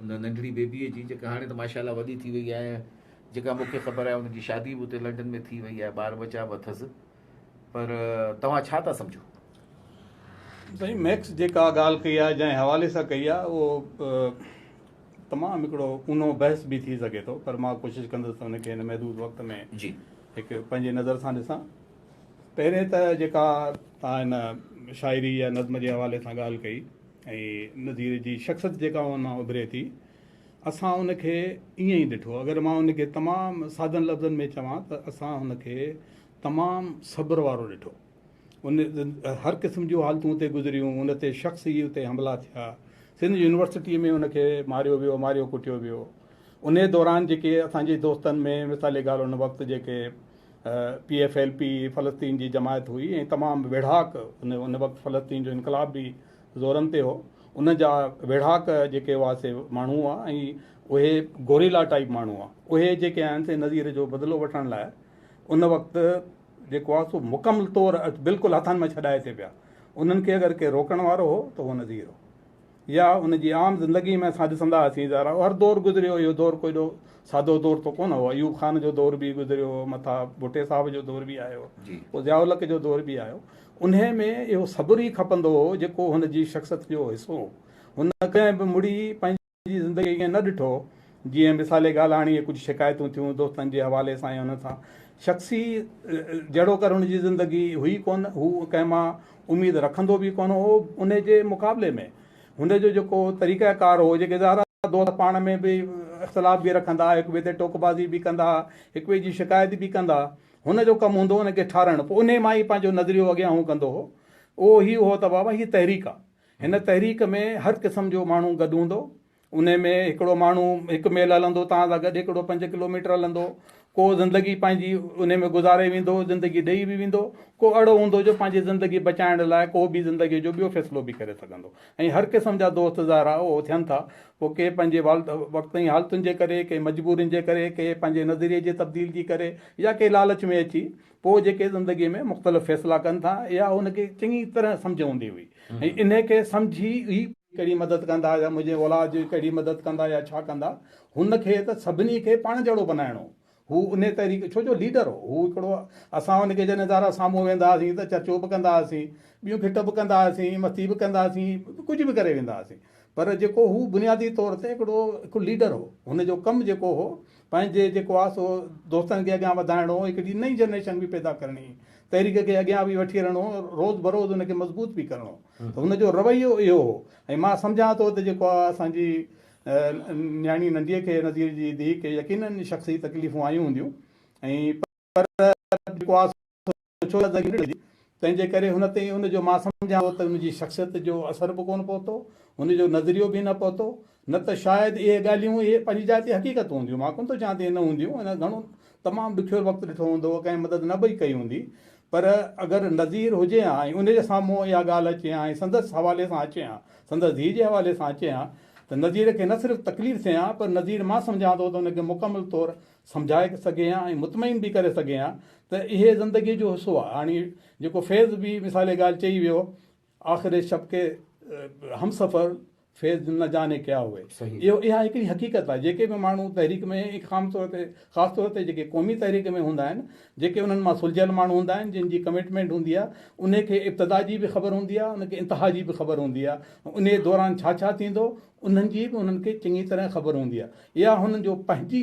ان ننڍڙي بيبيء جي جيڪا هاڻي ته ماشاء الله وڏي ٿي وئي آهي جيڪا مونکي خبر آهي ان جي شادي به اتي لنڊن ۾ ٿي وئي آهي ٻار ٻچا به اٿس پر توهان ڇا ٿا سمجهو؟ سائين ميڪس جيڪا ڳالهه ڪئي آهي جنهن حوالي سان ڪئي آهي اهو تمام هڪڙو اونهو بحث به ٿي سگهي ٿو پر مان ڪوشش ڪندس ته ان کي هن محدود وقت ۾ هڪ پنهنجي نظر سان ڏسان پهرين ته جيڪا توهان هن شاعري يا نظم جي حوالي سان ڳالهه ڪئي ۽ نظير جي شخصت جيڪا ان مان اڀري ٿي اسان ان کي ائين ئي ڏٺو. اگر مان ان کي تمام سادن لفظن ۾ چوان ته اسان ان کي تمام صبر وارو ڏٺو. ان هر قسم جون حالتون اتي گذريون، ان تي شخصي اتي حملا ٿيا، سنڌ يونيورسٽيء ۾ ان کي ماريو ويو، ماريو ڪٽيو ويو. انهيء دوران جيڪي اسان جي دوستن ۾ مثال ڳالهه ان وقت جيڪي پي ايف ايل پي فلسطين جي جماعت هئي ۽ تمام ويڙهاڪ ان وقت فلسطين جو انقلاب به زورن تي هو. ان جا ويڙهاڪ جيڪي هئا سي ماڻهو هئا ۽ اهي گوريلا ٽائيپ ماڻهو هئا. اهي جيڪي آهن سي نظير جو بدلو وٺڻ لاء ان وقت جيڪو آهي سو مڪمل طور بلڪل هٿن مان ڇڏائي ٿي پيا. انهن کي اگر ڪير روڪڻ وارو هو ته اهو نظير هو. يا ان جي عام زندگي ۾ اسان ڏسندا هئاسين ظاهر هر دور گذريو اهو دور ڪو ايڏو سادو دور ته ڪونه هو. ايوب خان جو دور به گذريو مٿان ڀٽي صاحب جو دور به آيو پوء ضياء الحق جو دور به آيو انهيء ۾ اهو صبر ئي کپندو هو، جيڪو هن جي شخصيت جو حصو هو. هن ڪڏهن به مڙي پنهنجي زندگيء کي ائين نه ڏٺو هو، جيئن مثالي ڳالهه هاڻي اهي ڪجهه شڪايتون ٿيون دوستن جي حوالي سان يا انهن سان شخصي جهڙوڪر هن جي زندگي هئي ڪونه، هو ڪنهن مان اميد رکندو به ڪونه هو، انهيء جي مقابلي ۾ هن جو جيڪو طريقه ڪار هو، جيڪي ظاهر آهي دوست پاڻ ۾ به اختلاف به رکندا، هڪ ٻئي تي ٽوڪ بازي به ڪندا، هڪ ٻئي جي شڪايت به ڪندا، هن جو ڪم هوندو هو ان کي ٺارائڻ، پوء انهيء مان ئي پنهنجو نظريو اڳيان هو ڪندو هو. اهو هي هو ته بابا هيء تحريڪ آ. هن تحريڪ ۾ هر قسم جو ماڻهو گڏ هوندو. انهيء ۾ هڪڙو ماڻهو هڪ ميل هلندو توهان سان گڏ، هڪڙو پنج ڪلوميٽر هلندو، ڪو زندگي پنهنجي انهيء ۾ گذاري ويندو، زندگي ڏيئي به ويندو، ڪو اهڙو هوندو جو پنهنجي زندگي بچائڻ لاء ڪو به زندگيء جو ٻيو فيصلو به ڪري سگهندو. ۽ هر قسم جا دوست ظاهر آهي اهو ٿين ٿا پوء ڪي پنهنجي والد وقتئين حالتن جي ڪري ڪي مجبورين جي ڪري ڪي پنهنجي نظريي جي تبديل جي ڪري يا ڪي لالچ ۾ اچي پوء جيڪي زندگي ۾ مختلف فيصلا ڪن ٿا اها ان کي چڱي طرح سمجهه هوندي هئي ۽ انهي کي سمجهي ئي ڪهڙي مدد ڪندا يا منهنجي اولاد جي ڪهڙي مدد ڪندا يا ڇا ڪندا هن کي ته سڀني کي پاڻ جهڙو بنائڻو هو انهي تحريڪ ڇو جو ليڊر هو. هو هڪڙو هو. اسان هن کي جڏهن ادارا سامهون ويهندا هئاسين ته چرچو به ڪندا هئاسين، ٻيون ڦٽ به ڪندا هئاسين، مستي به ڪندا هئاسين، ڪجهه به ڪري ويندا هئاسين. پر جيڪو هو بنيادي طور تي هڪڙو هڪ ليڊر هو. هن جو ڪم جيڪو هو پنهنجي جيڪو آ سو دوستن کي اڳيان وڌائڻو هو، هڪڙي نئين جنريشن به پيدا ڪرڻي هئي. تحريڪ کي اڳيان به وٺي هلڻو هو، روز بروز ان کي مضبوط به ڪرڻو هو. ته هن جو رويو اهو هو ۽ مان سمجهان ٿو ته جيڪو آ اسان جي نياڻي ننديء کي نذير جي ڌيء کي يقينن شخصي تڪليفون آيون هونديون ۽ پر بڪواس اوڇو يا ذريعي هجي تنهنجي ڪري هن تي ان جو مان سمجهان ٿو ته ان جي شخصيت جو اثر به ڪونه پهتو هن جو نظريو به نه پهتو نه ته شايد اهي ڳالهيون اهي پنهنجي جاء تي حقيقت هونديون مان ڪونه ٿو چوان ته اهي نه هونديون ان گهڻو تمام ڏکيو وقت ڏٺو هوندو ڪنهن مدد نه به ڪئي هوندي پر اگر نظير هجي ها ۽ ان جي سامهون اها ڳالهه اچي ها ۽ سندس حوالي سان اچي ها سندس ڌيء جي حوالي سان اچي ها ته نظير کي نه صرف تڪليف ٿئي ها پر نظير مان سمجهان ٿو ته ان کي مڪمل طور سمجهائي سگهي ها ۽ مطمئن به ڪري سگهي ها ته اهي زندگي جو حصو آهي هاڻي جيڪو فيض به مثالي ڳالهه چئي ويو آخر شب ڪي همسفر فيض نه جاني ڪيا هئي. اهو اها هڪڙي حقيقت آهي جيڪي به ماڻهو تحريڪ ۾ خام طور تي خاص طور تي جيڪي قومي تحريڪ ۾ هوندا آهن جيڪي انهن مان سلجهيل ماڻهو هوندا آهن جن جي ڪمٽمينٽ هوندي آهي انهي کي ابتدا جي به خبر هوندي آهي ان کي انتها جي به خبر هوندي آهي انهي دوران ڇا ڇا ٿيندو انهن جي به انهن کي چڱي طرح خبر هوندي آهي اها هنن جو پنهنجي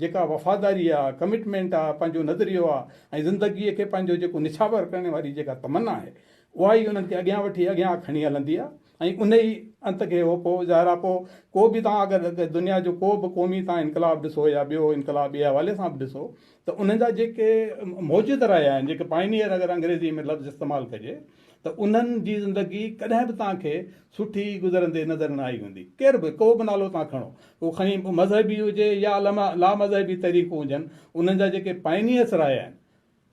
جيڪا وفاداري آهي ڪمٽمينٽ آهي پنهنجو نظريو آهي ۽ زندگي کي پنهنجو جيڪو نڇاور ڪرڻ واري جيڪا تمنا آهي اها ئي انهن کي اڳيان وٺي اڳيان کڻي هلندي آهي ۽ انهي ئي انت کي هو پوء ظاهر آهي پوء ڪو به توهان اگر دنيا جو ڪو به قومي توهان انقلاب ڏسو يا ٻيو انقلاب ٻئي حوالي سان به ڏسو ته انهن جا جيڪي موجد رهيا آهن جيڪي پائنيئر اگر انگريزي ۾ لفظ استعمال ڪجي ته انهن جي زندگي ڪڏهن به توهان کي سٺي گذرندي نظر نه آئي هوندي ڪير به ڪو به نالو توهان کڻو اهو کڻي مذهبي هجي يا لامذهبي تحريڪون هجن انهن جا جيڪي پائنيئرس رهيا آهن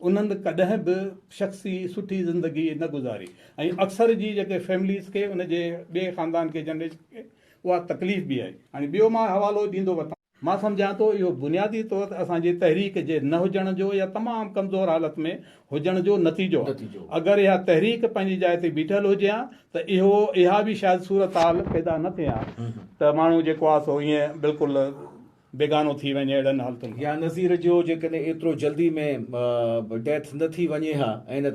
انهن ڪڏهن به شخصي سٺي زندگي نه گذاري ۽ اڪثر جي جيڪي فيمليز کي ان جي ٻئي خاندان کي جنريشن کي اها تڪليف به آهي. هاڻي ٻيو مان حوالو ڏيندو وتان. مان سمجهان ٿو اهو بنيادي طور تي اسان جي تحريڪ جي نه هجڻ جو يا تمام ڪمزور حالت ۾ هجڻ جو نتيجو آهي. اگر اها تحريڪ پنهنجي جاء تي بيٺل هجي ها ته اهو اها به شايد صورتحال پيدا نه ٿئي ها ته ماڻهو جيڪو آهي سو ائين بلڪل بيگانو ٿي وڃي اهڙن حالتن کان. يا نظير جو جيڪڏهن ايترو جلدي ۾ ڊيٿ نه ٿي وڃي ها ۽ ان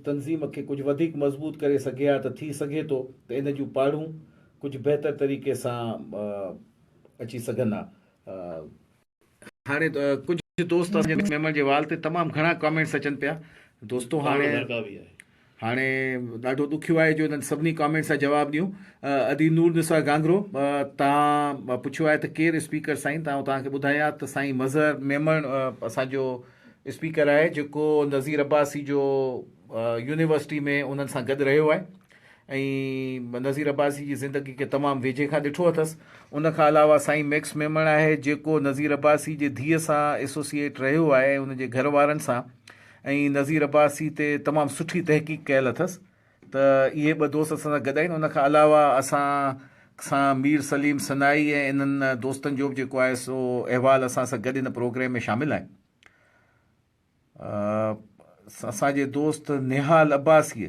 تنظيم کي ڪجهه وڌيڪ مضبوط ڪري سگهي ها ته ٿي سگهي ٿو ته ان جون پاڙون ڪجهه بهتر طريقي سان اچي سگهن ها. هاڻي ڪجهه دوست ميمڻ جي وال تي تمام گهڻا ڪامينٽس اچن پيا دوستو هاڻي. هاڻي ڏاڍو ڏکيو آهي جو انهن سڀني ڪامينٽس جا جواب ڏيون. ادي نور نثار گانگرو تان پڇيو آهي ته ڪير اسپيڪر سائين تان توهان کي ٻڌايان ها ته سائين مظهر ميمڻ اسان جو اسپيڪر آهي جيڪو نظير عباسي جو يونيورسٽي ۾ انهن سان گڏ رهيو آهي ۽ نظير عباسي جي زندگي کي تمام ويجهي کان ڏٺو اٿس ان کان علاوه سائين ميڪس ميمڻ آهي جيڪو نظير عباسي جي ڌيء سان ايسوسيئيٽ رهيو آهي ۽ ان جي گهر وارن سان ۽ نظير عباسي تي تمام سٺي تحقيق ڪيل اٿس ته اهي ٻه دوست اسان سان گڏ آهن ان کان علاوه اسان سان مير سليم سنائي ۽ انهن دوستن جو به جيڪو آهي سو احوال اسان سان گڏ ان پروگريم ۾ شامل آهن اسان جي دوست Nihal Abbasi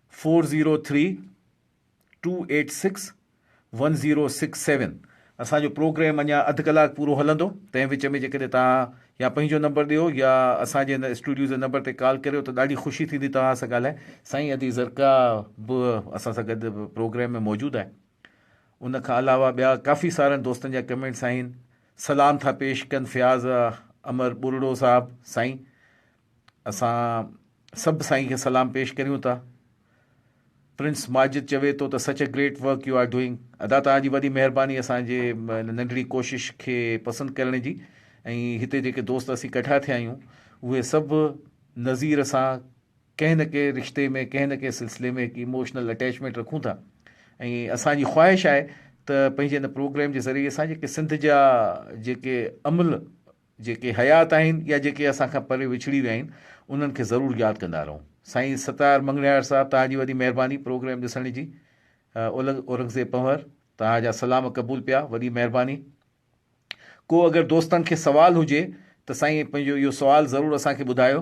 four zero three two eight six one zero six seven اسان جو پروگرام اڃا اڌ ڪلاڪ پورو هلندو تنهن وچ ۾ جيڪڏهن توهان يا پنهنجو نمبر ڏيو يا اسان جي هن اسٽوڊيو جي نمبر تي ڪال ڪريو ته ڏاڍي خوشي ٿيندي توهان سان ڳالهائي سائين ادي زرڪا به اسان سان گڏ پروگرام ۾ موجود آهي ان کان علاوه ٻيا ڪافي سارن دوستن جا ڪمينٽس آهن سلام ٿا پيش ڪن فياض امر ٻرڙو صاحب سائين اسان سڀ سائين کي سلام پيش ڪريون ٿا. پرنس ماجد چوي ٿو ته سچ a great work you are doing ادا توهان جي وڏي مهرباني اسان جي ان ننڍڙي ڪوشش کي پسند ڪرڻ جي ۽ هتي جيڪي دوست اسين ڪٺا ٿيا آهيون اهي سڀ نظير سان ڪنهن نه ڪنهن رشتي ۾ ڪنهن نه ڪنهن سلسلي ۾ هڪ ايموشنل اٽيچمينٽ رکون ٿا ۽ اسان جي خواهش آهي ته پنهنجي ان پروگرام جي ذريعي سان جيڪي سنڌ جا جيڪي عمل جيڪي حيات آهن يا جيڪي اسان کان پري وڇڙي ويا آهن انهن کي ضرور ياد ڪندا رهون سائين ستار مڱڻهار صاحب توهان جي وڏي مهرباني پروگرام ڏسڻ جي اولنگ اورنگزيب پنهور توهان جا سلام قبول پيا وڏي مهرباني ڪو اگر دوستن کي سوال هجي ته سائين پنهنجو اهو سوال ضرور اسان کي ٻڌايو.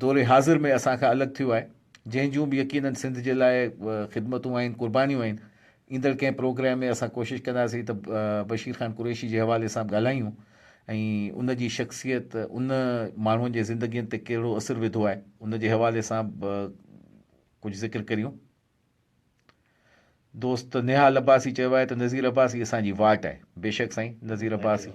دور حاضر ۾ اسان کان الڳ ٿيو آهي، جنهن جون به يقينن سنڌ جي لاء خدمتون آهن، قربانيون آهن، ايندڙ ڪنهن پروگرام ۾ اسان ڪوشش ڪنداسين ته بشير خان قريشي جي حوالي سان به ڳالهايون ۽ ان جي شخصيت ان ماڻهن جي زندگين تي ڪهڙو اثر وڌو آهي ان جي حوالي سان به ڪجهه ذڪر ڪريون. دوست نهال عباسي چيو آهي ته نذير عباسي اسان جي واٽ آهي، بيشڪ سائين نذير عباسي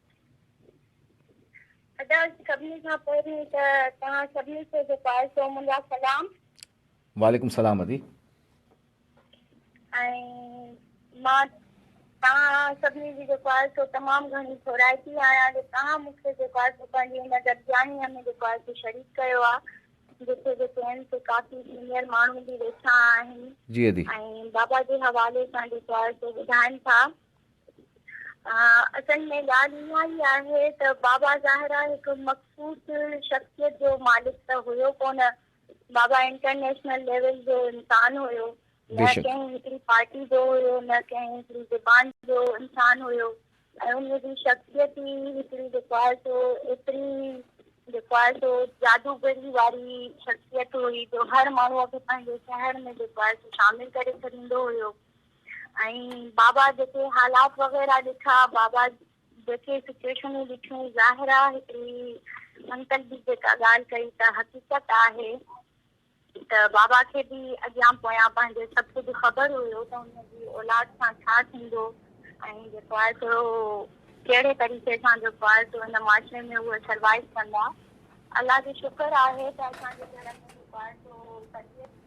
ادا سڀني کان پهرين ته توهان سڀني کي جيڪو آهي سو منهنجا سلام. وعليڪم سلام ادي. ۽ مان توهان سڀني جي جيڪو آهي سو تمام گهڻي ٿورائتي آهيان جو توهان مون کي جيڪو آهي سو پنهنجي هن گڏجاڻيء ۾ جيڪو آهي سو شريڪ ڪيو آ جتي جي چين سي ڪافي سينئر ماڻهو به ويٺا آهن ۽ بابا جي حوالي سان جيڪو آهي سو ٻڌائن ٿا اصل ۾ ڳالهه اها ئي آهي ته بابا ظاهرا هڪ مخصوص شخصيت جو مالڪ ته هيو ڪونه، بابا انٽرنيشنل ليول جو انسان هيو، نه ڪنهن هڪڙي پارٽي جو هيو، نه ڪنهن هڪڙي زبان جو انسان هيو ۽ ان جي شخصيت ئي هڪڙي جيڪو آهي سو ايتري جيڪو آهي سو جادوگري واري شخصيت هئي جو هر ماڻهوء کي پنهنجي شهر ۾ جيڪو آهي سو شامل ڪري ڇڏيندو هيو. ۽ بابا جيڪي حالات وغيره ڏٺا بابا جيڪي سچوئيشنون ڏٺيون ظاهر آ هڪڙي انڪل به جيڪا ڳالهه ڪئي ته حقيقت آهي ته بابا کي به اڳيان پويان پنهنجي سڀ ڪجهه خبر هيو ته ان جي اولاد سان ڇا ٿيندو ۽ جيڪو آهي سو ڪهڙي طريقي سان جيڪو آهي سو ان معاشري ۾ اهي سروائيو ڪندا الله جو شڪر آهي ته اسان جي گهر ۾ جيڪو آهي سو تربيت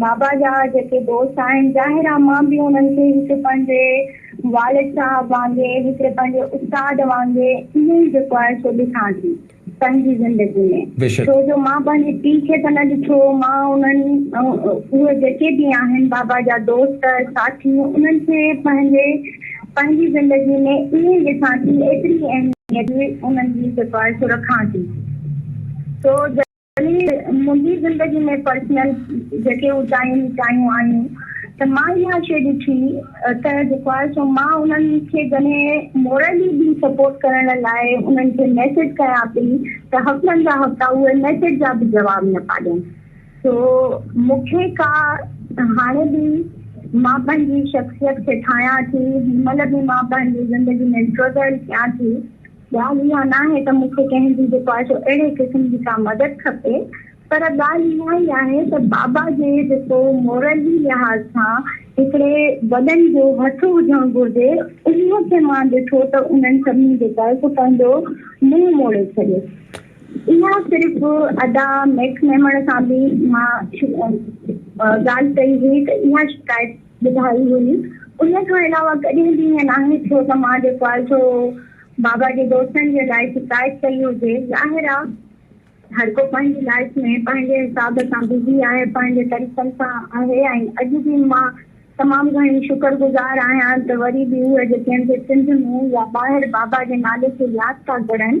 بابا جا جيڪي دوست آهن، ظاهر آ مان به انهن کي هڪ پنهنجي والد صاحب وانگي، هڪ پنهنجي استاد وانگي ائين ئي جيڪو آهي سو ڏسان ٿي پنهنجي زندگي ۾، بيشڪ. ڇو جو مان پنهنجي پيء کي ته نه ڏٺو، مان انهن اهي جيڪي به آهن بابا جا دوست، ساٿي انهن کي پنهنجي پنهنجي زندگي ۾ ائين ئي ڏسان ٿي، ايتري اهميت انهن جي جيڪو آهي سو رکان ٿي، سو جڏهن. يعني منهنجي زندگي ۾ پرسنل جيڪي اوچايون نيچايون آيون ته مان اها شيء ڏٺي ته جيڪو آهي سو مان انهن کي جڏهن مورلي به سپورٽ ڪرڻ لاء انهن کي ميسيج ڪيان پئي ته هفتن جا هفتا اهي ميسيج جا به جواب نه پيا ڏين سو مون کي ڪا هاڻي به مان پنهنجي شخصيت کي ٺاهيان ٿي هن مهل به مان پنهنجي زندگي ۾ اسٽرگل ڪيان ٿي ڳالهه اها ناهي ته مون کي ڪنهن جي جيڪو آهي سو اهڙي قسم جي ڪا مدد کپي پر ڳالهه اها ئي آهي ته بابا جي جيڪو مورلي لحاظ سان هڪڙي وڏن جو هٿ هجڻ گهرجي انهي کي مان ڏٺو ته انهن سڀني جيڪو آهي سو پنهنجو منهن موڙي ڇڏيو. اها صرف ادا ميڪ ميمڻ سان به مان ڳالهه ڪئي هئي ته اها شڪايت ٻڌائي هئي. ان کان علاوه ڪڏهن به ائين ناهي ٿيو ته مان جيڪو آهي سو بابا جي دوستن جي لاء شڪايت ڪئي هجي. ظاهر آ هر ڪو پنهنجي لائيف ۾ پنهنجي حساب سان بزي آهي، پنهنجي طريقن سان آهي ۽ اڄ به مان تمام گهڻي شڪر گذار آهيان ته وري به اهي جيڪي هن جي سنڌ ۾ يا ٻاهر بابا جي نالي کي ياد ٿا ڪرن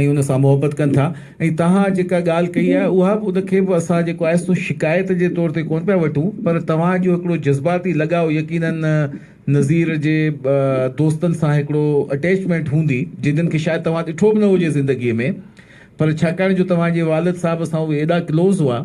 ۽ ان سان محبت ڪن ٿا ۽ توهان جيڪا ڳالهه ڪئي آهي اها به ان کي به اسان جيڪو آهي سو شڪايت جي طور تي ڪونه پيا وٺون پر توهان جو هڪڙو جذباتي لڳاء يقيناً نظير جي دوستن سان هڪڙو اٽيچمينٽ هوندي جنن کي شايد توهان ڏٺو به نه هجي زندگي ۾ پر ڇاڪاڻ جو توهان جي والد صاحب سان اهي ايڏا ڪلوز هئا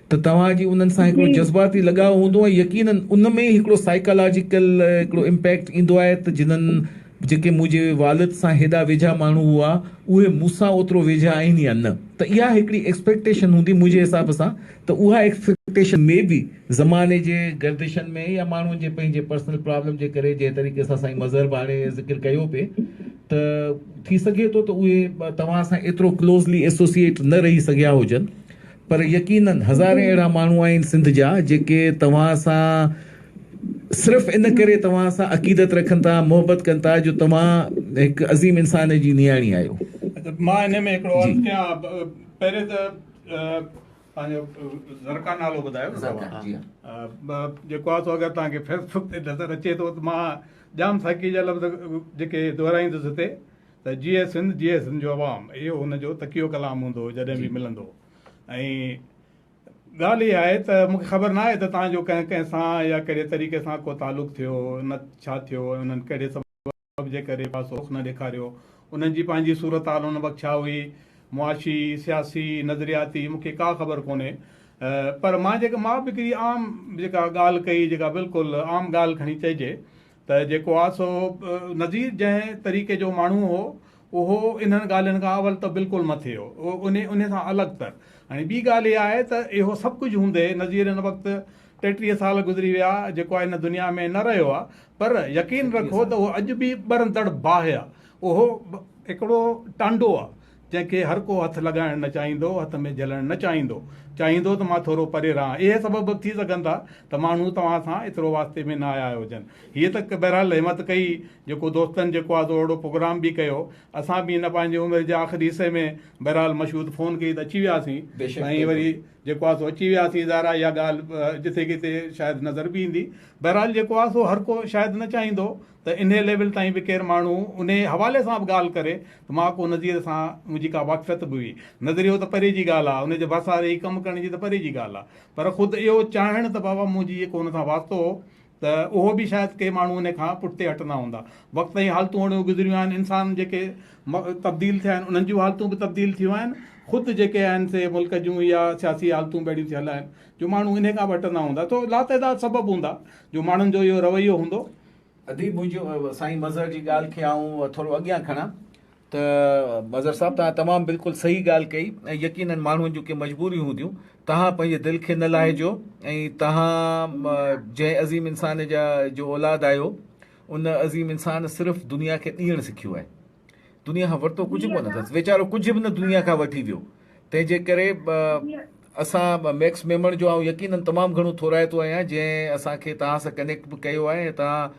ته توهان جي انهن سان هڪڙو جذباتي لڳاء هوندو ۽ يقيناً ان ۾ ئي هڪڙو سائيڪالاجيڪل هڪڙو امپيڪٽ ايندو آهي ته جنهن جيڪي منهنجي والد سان هيڏا ويجها ماڻهو هئا اهي مون سان اوترو ويجها آهن يا نه ته اها هڪڙي ايڪسپيڪٽيشن هوندي منهنجي حساب سان ته اها ايڪسپيڪٽيشن مي بي زماني جي گردشن ۾ يا ماڻهن جي پنهنجي پرسنل پرابلم جي ڪري جنهن طريقي سان سائين مظهر به هاڻي ذڪر ڪيو پئي ته ٿي سگهي ٿو ته اهي توهان سان ايترو ڪلوزلي ايسوسيئيٽ نه رهي سگهيا هجن پر يقينن هزارين اهڙا ماڻهو آهن سنڌ جا جيڪي توهان سان صرف ان ڪري توهان سان عقيدت رکن ٿا محبت ڪن ٿا جو توهان هڪ عظيم انسان جي نياڻي آهيو. مان انهي ۾ هڪڙو عرض ڪيان پهرين ته پنهنجو زرقا نالو ٻڌايو زرقا جي ها جيڪو آ سو اگر توهان کي فيسبوڪ تي نظر اچي ٿو ته مان ڄام ساقي جا لفظ جيڪي دهرائيندس هتي ته جيئي سنڌ جيئي سنڌ جو عوام اهو هن جو تڪيو ڪلام هوندو هو جڏهن به ملندو ۽ ڳالهه اها آهي ته مون کي خبر نه آهي ته تهان جو ڪنهن ڪنهن سان يا ڪهڙي طريقي سان ڪو تعلق ٿيو نه ڇا ٿيو ۽ انهن ڪهڙي سبب جي ڪري پاسو رخ نه ڏيکاريو انهن جي پنهنجي صورتحال ان وقت ڇا هئي معاشي سياسي نظرياتي مون کي ڪا خبر ڪونهي پر مان جيڪا مان به هڪڙي عام جيڪا ڳالهه ڪئي جيڪا بلڪل عام ڳالهه کڻي چئجي ته جيڪو آ سو نذير جنهن طريقي جو ماڻهو هو اهو انهن ڳالهين کان اول ته بلڪل مٿي هو انهي انهي سان الڳ ته هاڻي ٻي ڳالهه اها آهي ته اهو سڀ ڪجهه هوندي نذير هن وقت ٽيٽيهه سال گذري ويا جيڪو آ هن دنيا ۾ نه رهيو آ پر يقين رکو ته اهو اڄ به ٻرندڙ باهه آ اهو هڪڙو ٽانڊو آ جنهن کي هر ڪو هٿ لڳائڻ نه چاهيندو، هٿ ۾ جهلڻ نه چاهيندو. چاهيندو ته مان ٿورو پري رهان. اهي سبب به ٿي سگهن ٿا ته ماڻهو توهان سان ايترو واسطي ۾ نه آيا هجن. هيء ته بهرحال همت ڪئي، جيڪو دوستن جيڪو آهي سو اهڙو پروگرام به ڪيو. اسان به هن پنهنجي عمر جي آخري حصي ۾ بهرحال مشهود فون ڪئي ته اچي وياسين ۽ وري جيڪو آهي سو اچي وياسين. ظاهر آهي اها ڳالهه جتي ڪٿي شايد نظر به ايندي. بهرحال جيڪو آهي سو هر ڪو شايد نه چاهيندو ته انهيء ليول تائين به ڪير ماڻهو انهيء حوالي سان به ڳالهه ڪري ته مان ڪو نظير سان منهنجي ڪا واقفيت به هئي. نظريو ته پري جي ڳالهه آ، انهيء جي ڀرسان رهي ڪم ڪرڻ جي ته پري جي ڳالهه آ، پر خود اهو چاهڻ ته بابا منهنجي جيڪو ان سان واسطو هو ته اهو به شايد ڪي ماڻهو انهيء کان پٺتي هٽندا هوندا. وقت ۽ حالتون اهڙيون گذريون آهن، انسان جيڪي تبديل ٿيا آهن، انهن جون حالتون به تبديل ٿيون آهن، خود جيڪي آهن سي ملڪ جون يا سياسي حالتون به اهڙيون ٿيل آهن، جو ماڻهو انهيء کان به هٽندا هوندا. سو لاتعداد سبب هوندا، جو ماڻهن جو اهو رويو هوندو. اديب منهنجو سائين مظهر جي ڳالهه کي آئون ٿورو اڳيان کڻان ته مظهر صاحب توهان تمام بلڪل صحيح ڳالهه ڪئي ۽ يقينن ماڻهن جون ڪي مجبوريون هونديون توهان پنهنجي دل کي نه لاهيجو ۽ توهان جنهن عظيم انسان جا جو اولاد آهيو ان عظيم انسان صرف دنيا کي ڏيڻ سکيو آهي. دنيا کان ورتو ڪجهه به ڪونه اٿس ويچارو ڪجهه به نه دنيا کان وٺي ويو تنهن جي ڪري اسان ميڪس ميمڻ جو آئون يقينن تمام گهڻو ٿورائتو آهيان جنهن اسان کي توهان سان ڪنيڪٽ به ڪيو آهي ۽ توهان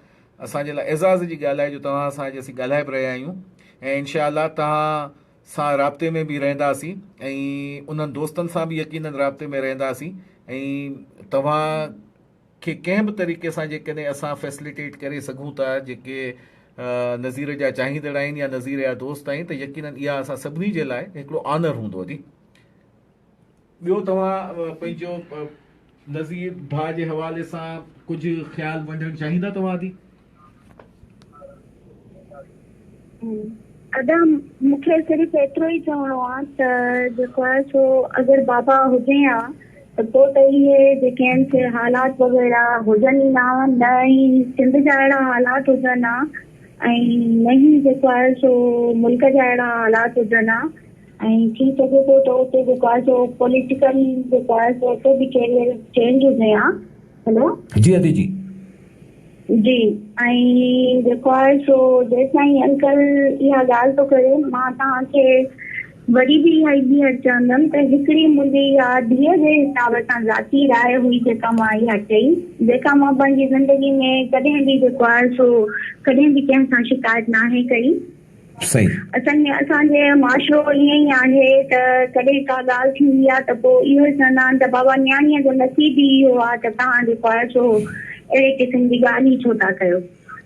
اسان جي لاء اعزاز جي ڳالهه آهي جو توهان سان اڄ اسين ڳالهائي به رهيا آهيون ۽ انشاء الله توهان سان رابطي ۾ به رهنداسين ۽ انهن دوستن سان به يقينن رابطي ۾ رهنداسين ۽ توهان کي ڪنهن به طريقي سان جيڪڏهن اسان فيسليٽيٽ ڪري سگهون ٿا جيڪي نظير جا چاهيندڙ آهن يا نظير جا دوست آهن ته يقينن اها اسان سڀني جي لاء هڪڙو آنر هوندو جي ٻيو توهان پنهنجو نظير ڀاء جي حوالي سان ڪجهه خيال ونڊڻ چاهيندا توهان جي. ادا مون کي صرف ايترو ئي چوڻو آ ته جيڪو آ سو اگر بابا هجين ها ته پوء ته اهي جيڪي آهن سي حالات وغيره هجن ئي نه ها نه ئي سنڌ جا اهڙا حالات هجن ها ۽ نه ئي جيڪو آهي سو ملڪ جا اهڙا حالات هجن ها ۽ ٿي سگهي ٿو ته اتي جيڪو آهي سو پوليٽيڪل جيڪو آهي سو اتي به ڪيريئر چينج هجين ها هلو. جي ادي جي. جي ۽ جيڪو آهي سو جيسين انڪل اها ڳالهه ٿو ڪري مان توهان کي وري به اها ئي ٻيهر چوندم ته هڪڙي منهنجي اها ڌيء جي حساب سان ذاتي راء هئي جيڪا مان اها چئي جيڪا مان پنهنجي زندگي ۾ ڪڏهن به جيڪو آهي سو ڪڏهن به ڪنهن سان شڪايت ناهي ڪئي سائين. اصل ۾ اسان جي معاشرو ائين ئي آهي ته ڪڏهن ڪا ڳالهه ٿيندي آهي ته پوء اهو ئي چوندا آهن ته بابا نياڻيء جو نصيب ئي اهو آهي ته توهان جيڪو آهي سو اهڙي قسم جي ڳالهه ئي ڇو ٿا ڪيو.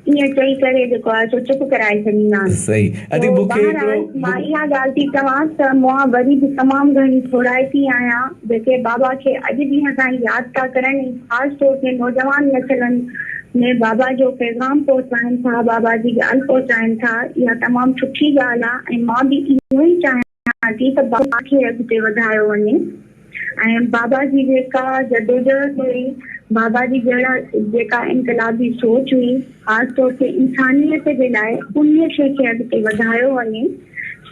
ائين چئي ڪري جيڪو آهي سو چپ ڪرائي ڇڏيندا آهن. سو بهرحال مان اها ڳالهه ٿي چوان ته مان وري به تمام گهڻي ٿورائتي آهيان جيڪي بابا کي اڄ ڏينهن تائين ياد ٿا ڪرن ۽ خاص طور تي نوجوان نسلن ۾ بابا جو پيغام پهچائين ٿا، بابا جي ڳالهه پهچائين ٿا، اها تمام سٺي ڳالهه آهي ۽ مان به اهو ئي چاهيان ٿي ته بابا کي اڳتي وڌايو وڃي ۽ بابا جي جيڪا جدوجهد هئي، بابا جي جهڙا جيڪا انقلابي سوچ هئي، خاص طور تي انسانيت جي لاء انهيء شيء کي اڳتي وڌايو وڃي،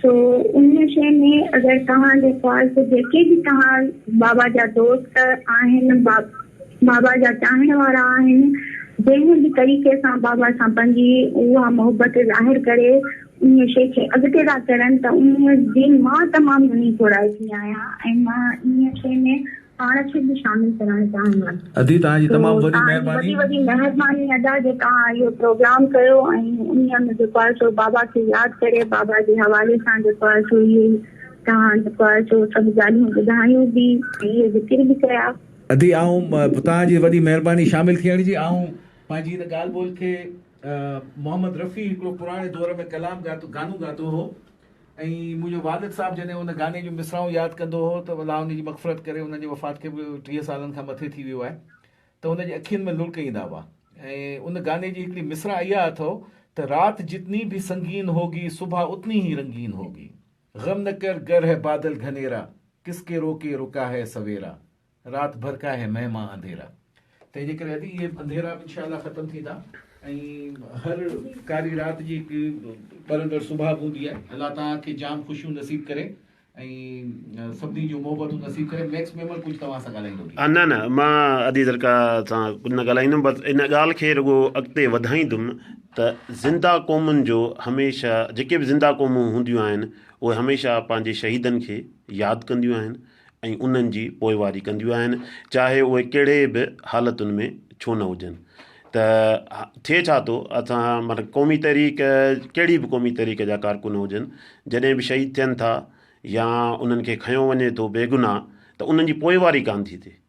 سو انهيء شيء ۾ اگر توهان جي خواهش جيڪي به توهان بابا جا دوست آهن، بابا. بابا جا چاهڻ وارا آهن، جنهن به طريقي سان بابا سان پنهنجي اها محبت ظاهر ڪري انهيء شيء کي اڳتي ٿا ڪرن ته انهيء جي مان تمام گهڻي ٿورائي ٿي آهيان ۽ مان انهيء شيء ۾ پاڻ کي به شامل ڪرڻ چاهيان ٿو ادي توهان جي تمام وڏي توهان جي وڏي وڏي مهرباني ادا جو توهان اهو پروگرام ڪيو ۽ انهيء ۾ جيڪو آهي سو بابا کي ياد ڪري بابا جي حوالي سان جيڪو آهي سو اهي توهان جيڪو آهي سو سڀ ڳالهيون ٻڌايون به ۽ اهي ذڪر به ڪيا ادي آئون توهان جي وڏي مهرباني شامل ٿيڻ جي آئون پنهنجي ان ڳالهه ٻولهه کي محمد رفيع هڪڙو پراڻي دور ۾ ڪلام ڳاتو گانو ڳاتو هو ۽ منهنجو والد صاحب جڏهن ان گاني جون مصرعون ياد ڪندو هو ته الله ان جي مغفرت ڪري انهن جي وفات کي به ٽيهه سالن کان مٿي ٿي ويو آهي ته ان جي اکين ۾ لڙڪ ايندا هئا ۽ ان گاني جي هڪڙي مصرع اها اٿو ته رات جتني ڀي سنگين هوگي صبح اتني هي رنگين هوگي. غم نه ڪر گر هي بادل گهنيرا ڪس ڪي روڪي رڪا هي سويرا رات ڀر ڪا هي مه مان انڌيرا تنهن جي ڪري اهي انڌيرا به انشاء الله ختم ٿيندا ۽ هر ڪاري رات جي هڪ ٻرندڙ صبح به هوندي آهي الله توهان کي جام خوشيون نصيب ڪري ۽ سڀني جون محبتون نصيب ڪري ميڪس ميمر ڪجهه توهان سان ڳالهائيندو به نه نه مان ادي درڪا سان ڪجهه نه ڳالهائيندم بس ان ڳالهه کي رڳو اڳتي وڌائيندم ته زنده قومن جو هميشه جيڪي به زنده قومون هونديون آهن اهي هميشه پنهنجي شهيدن کي ياد ڪنديون آهن ۽ انهن جي پوئواري ڪنديون آهن چاهي اهي ڪهڙي به حالتن ۾ ڇو نه هجن ته ٿئي ڇا ٿو اسان مطلب قومي تحريڪ ڪهڙي به قومي تحريڪ جا ڪارڪن هجن جڏهن به شهيد ٿين ٿا يا انهن کي کنيو وڃي ٿو بيگناهه ته انهن جي پوئواري ڪانه ٿي ٿئي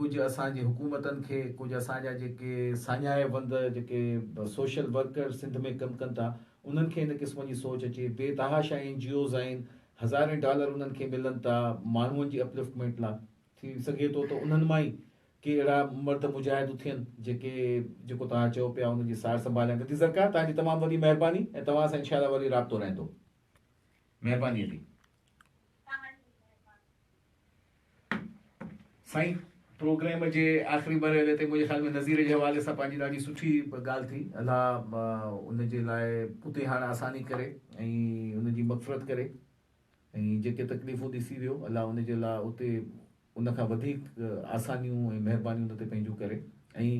ڪجهه اسان جي حڪومتن کي ڪجهه اسان جا جيڪي ساڃاهه وند جيڪي سوشل ورڪر سنڌ ۾ ڪم ڪن ٿا انهن کي ان قسم جي سوچ اچي بي تحاشا اين جي اوز آهن هزارين ڊالر انهن کي ملن ٿا ماڻهون جي اپلفٽمينٽ لا ٿي سگهي ٿو ته انهن مان ئي ڪي اهڙا مرد مجاهد اٿين جيڪي جيڪو توهان چئو پيا ان جي سار سنڀال ۽ ندي زرڪار توهان جي تمام وڏي مهرباني ۽ توهان سان انشاءالله وري رابطو رهندو مهرباني علي. سائين پروگرام جي آخري مرحلي تي منهنجي خيال ۾ نظير جي حوالي سان پنهنجي ڏاڍي سٺي ڳالهه ٿي الله ان جي لاء اتي هاڻ آساني ڪري ۽ ان جي مغفرت ڪري ۽ جيڪي تڪليفون ڏسي ويو الله ان جي لاء اتي ان کان وڌيڪ آسانيون ۽ مهربانيون ان تي پنهنجون ڪري ۽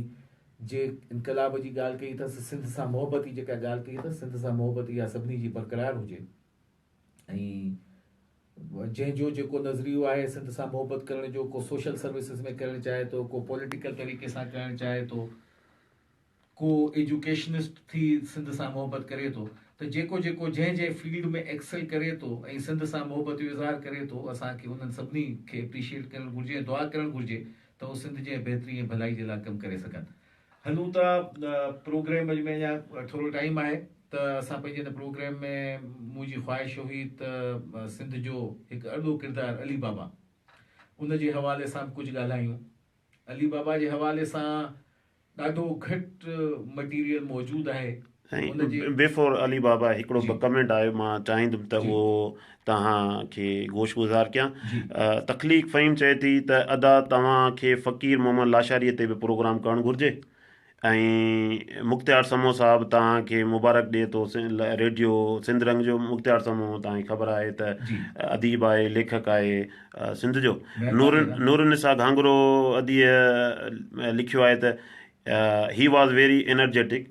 جي انقلاب جي ڳالهه ڪئي اٿس سنڌ سان محبت جي جيڪا ڳالهه ڪئي اٿس سنڌ سان محبت اها سڀني جي برقرار هجي ۽ جنهن جو جيڪو نظريو آهي سنڌ سان محبت ڪرڻ جو ڪو سوشل سروسز ۾ ڪرڻ چاهي ٿو ڪو پوليٽيڪل طريقي سان ڪرڻ چاهي ٿو ڪو ايجوڪيشنسٽ ٿي سنڌ سان محبت ڪري ٿو ته جيڪو جيڪو جنهن جنهن فيلڊ ۾ ايڪسل ڪري ٿو ۽ سنڌ سان محبت جو اظهار ڪري ٿو اسان کي انهن سڀني کي اپريشيئيٽ ڪرڻ گهرجي ۽ دعا ڪرڻ گهرجي ته هو سنڌ جي بهتري ۽ ڀلائي جي لاء ڪم ڪري سگهن هلون ٿا پروگرام ۾ اڃا ٿورو ٽائيم آهي ته اسان پنهنجي هن پروگرام ۾ منهنجي خواهش هئي ته سنڌ جو هڪ اڏو ڪردار علي بابا ان جي حوالي سان به ڪجهه ڳالهايون علي بابا جي حوالي سان ڏاڍو گهٽ مٽيريل موجود آهي سائين بيفور علي بابا هڪڙو به ڪمينٽ آيو مان چاهيندم ته اهو توهان کي گوش گذار ڪيان تخليق فهيم چئي ٿي ته ادا توهان کي فقير محمد لاشاري تي به پروگرام ڪرڻ گهرجي ۽ مختيار سمو صاحب توهان کي مبارڪ ڏي ٿو ريڊيو سنڌ رنگ جو مختيار سمو توهان کي خبر آهي ته اديب آهي ليکڪ آهي سنڌ جو نور نور نسا گهانگرو اديء لکيو آهي ته he was very energetic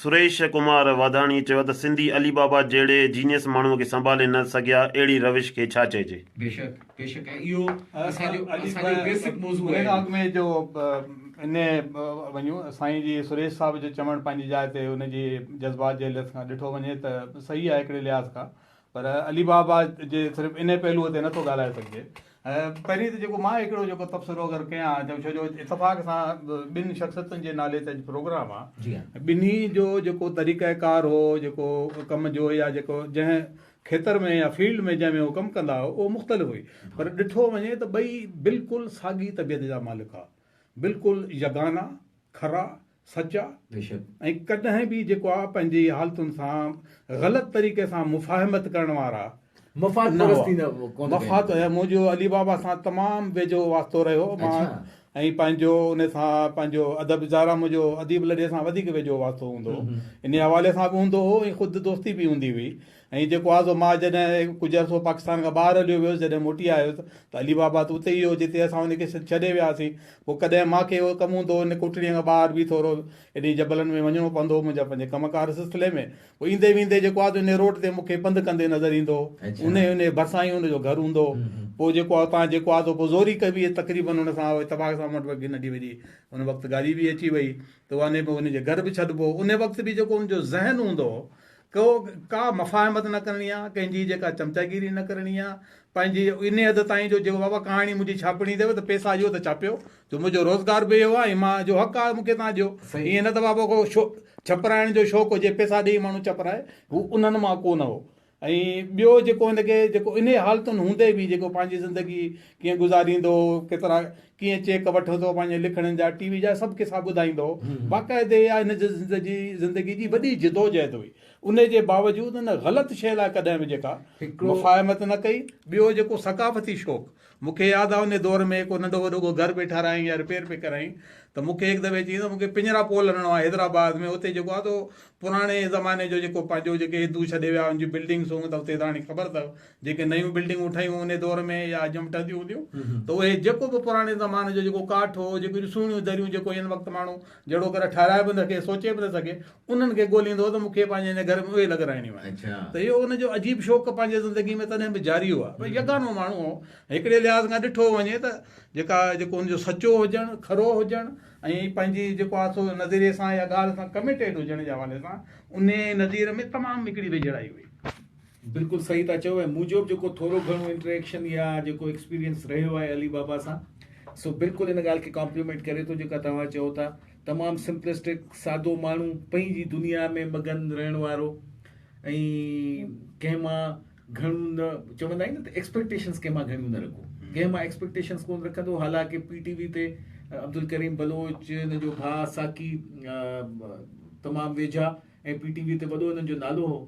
Suresh Kumar Wadhwani چيو ته سنڌي علي بابا جهڙي جينيس ماڻهو کي سنڀالي نه سگهيا اهڙي روش کي ڇا چئجي. بيشڪ بيشڪ ۽ اهو اسان جو اسان جو بيسڪ موضوع آهي. ان کان اڳ ۾ جو ان وڃون سائين جي سريش صاحب جو چوڻ پنهنجي جاء تي ان جي جذبات جي لحاظ کان ڏٺو وڃي ته صحيح آهي هڪڙي لحاظ کان پر علي بابا جي صرف انهي پهلوء تي نٿو ڳالهائي سگهجي. پهرين ته جيڪو مان هڪڙو جيڪو تبصرو اگر ڪيان ته ڇو جو اتفاق سان ٻن شخصيتن جي نالي تي اڄ پروگرام آ ٻنهي جو جيڪو طريقه ڪار هو جيڪو ڪم جو يا جيڪو جنهن کيتر ۾ يا فيلڊ ۾ جنهن ۾ هو ڪم ڪندا هو اهو مختلف هئي پر ڏٺو وڃي ته ٻئي بلڪل ساڳي طبيعت جا مالڪ هئا بلڪل يگانا، کرا، سچ آ ۽ ڪڏهن به جيڪو آ پنهنجي حالتن سان غلط طريقي سان مفاهمت ڪرڻ وارا مفاد پرستي نه ڪونه مفاد منهنجو علي بابا سان تمام ويجهو واسطو رهيو مان ۽ پنهنجو ان سان پنهنجو ادب زارا منهنجو اديب لڏي سان وڌيڪ ويجهو واسطو هوندو هو انهي حوالي سان به هوندو هو ۽ خود دوستي به هوندي هئي ائين جيڪو آزو مان جڏهن ڪجهه عرصو پاڪستان کان ٻاهر هليو ويس جڏهن موٽي آيس ته علي بابا ته اتي ئي هو جتي اسان ان کي ڇڏي وياسين پوء ڪڏهن مان کي اهو ڪم هوندو هو ان ڪوٽڙيء کان ٻاهر به ٿورو ايڏي جبلن ۾ وڃڻو پوندو هو منهنجا پنهنجي ڪم ڪار سلسلي ۾ پوء ايندي ويندي جيڪو آزو ان روڊ تي مون کي پنڌ ڪندي نظر ايندو هو ان ان جي ڀرسان ئي ان جو گهر هوندو هو پوء جيڪو آهي اتان جيڪو آزو پوء زوري ڪبي تقريبن ان سان اتفاق سان مون وٽ ننڍي وڏي ان وقت گاڏي به اچي وئي ته ان ان جي گهر به ڇڏبو هو ان وقت به جيڪو ان جو ذهن هوندو هو ڪو ڪا مفاهمت نه ڪرڻي آ ڪنهن جي جيڪا چمچاگيري نه ڪرڻي آ پنهنجي انهي حد تائين جو جيڪو بابا ڪهاڻي منهنجي ڇاپڻي اٿيو ته پيسا ڏيو ته ڇاپيو جو منهنجو روزگار به اهو آ ۽ مان جو حق آ مون کي تهان ڏيو ايئن نه ته بابا ڪو شو ڇپرائڻ جو شوق هجي پيسا ڏيئي ماڻهو ڇپرائي هو انهن مان ڪو نه هو ۽ ٻيو جيڪو هن کي جيڪو انهي حالتن هوندي به جيڪو پنهنجي زندگي ڪيئن گذاريندو هو ڪيترا ڪيئن چيڪ وٺو ٿو پنهنجي لکڻين جا ٽي وي جا سڀ قصا ٻڌائيندو هو باقاعدي اها هن جي زندگي زندگي جي وڏي جدوجهد هئي انهي جي باوجود هن غلط شيء لاء ڪڏهن به جيڪا مفاهمت نه ڪئي ٻيو جيڪو ثقافتي شوق مون کي ياد آهي انهي دور ۾ ڪو ننڍو وڏو ڪو گهر پئي ٺارايائين يا رپيئر پئي ڪرايائين ته مون کي هڪ دفعي چيائين ته مون کي پڃرا پول هڻڻو آهي حيدرآباد ۾ اتي جيڪو آهي سو پراڻي زماني جو جيڪو پنهنجو جيڪي هندو ڇڏي ويا ان جون بلڊنگس هيون ته اتي تاڻي خبر اٿو جيڪي نيون بلڊنگون ٺهيون انهي دور ۾ يا اڄ هم ٺهنديون هونديون ته اهي جيڪو به پراڻي زماني جو جيڪو ڪاٺ هو جيڪو اهڙيون سهڻيون دريون جيڪو هن وقت ماڻهو جهڙو ڪري ٺهرائي به نه سگهي سوچي به نه سگهي انهن کي ڳوليندو هو ته مون کي پنهنجي هن گهر ۾ اهي لڳرائڻيون آهن ته اهو ان جو عجيب شوق پنهنجي زندگي ۾ تڏهن به جاري هو ڀئي يگانو ماڻهو هو هڪڙي لحاظ کان ڏٺو وڃي ته جيڪا جيڪو ان جو سچو هجڻ کرو هجڻ ۽ پنهنجي جيڪو آهي سو نظريي سان يا ڳالهه سان ڪميٽيڊ هجڻ جي حوالي سان انهي نظير ۾ تمام هڪڙي ويجهڙائي هئي بلڪل صحيح ٿا چئو ۽ مون جو به جيڪو ٿورو گهڻو انٽريڪشن يا جيڪو ايڪسپيرينس رهيو آهي علي بابا سان سو بلڪل ان ڳالهه کي ڪامپليمينٽ ڪري ٿو جيڪا توهان چئو ٿا تمام سمپلسٽڪ سادو ماڻهو پنهنجي دنيا ۾ مگن رهڻ وارو ۽ ڪنهن مان گهڻو نه چوندا آهن نه ته ايڪسپيڪٽيشنس ڪنهن مان گهڻيون نه رکو ڪنهن مان ايڪسپيڪٽيشنس ڪون رکندو حالانڪه پي ٽي وي تي عبدالڪريم بلوچ ان جو ڀاء ساقي تمام ويجها ۽ پي ٽي وي تي وڏو انهن جو نالو هو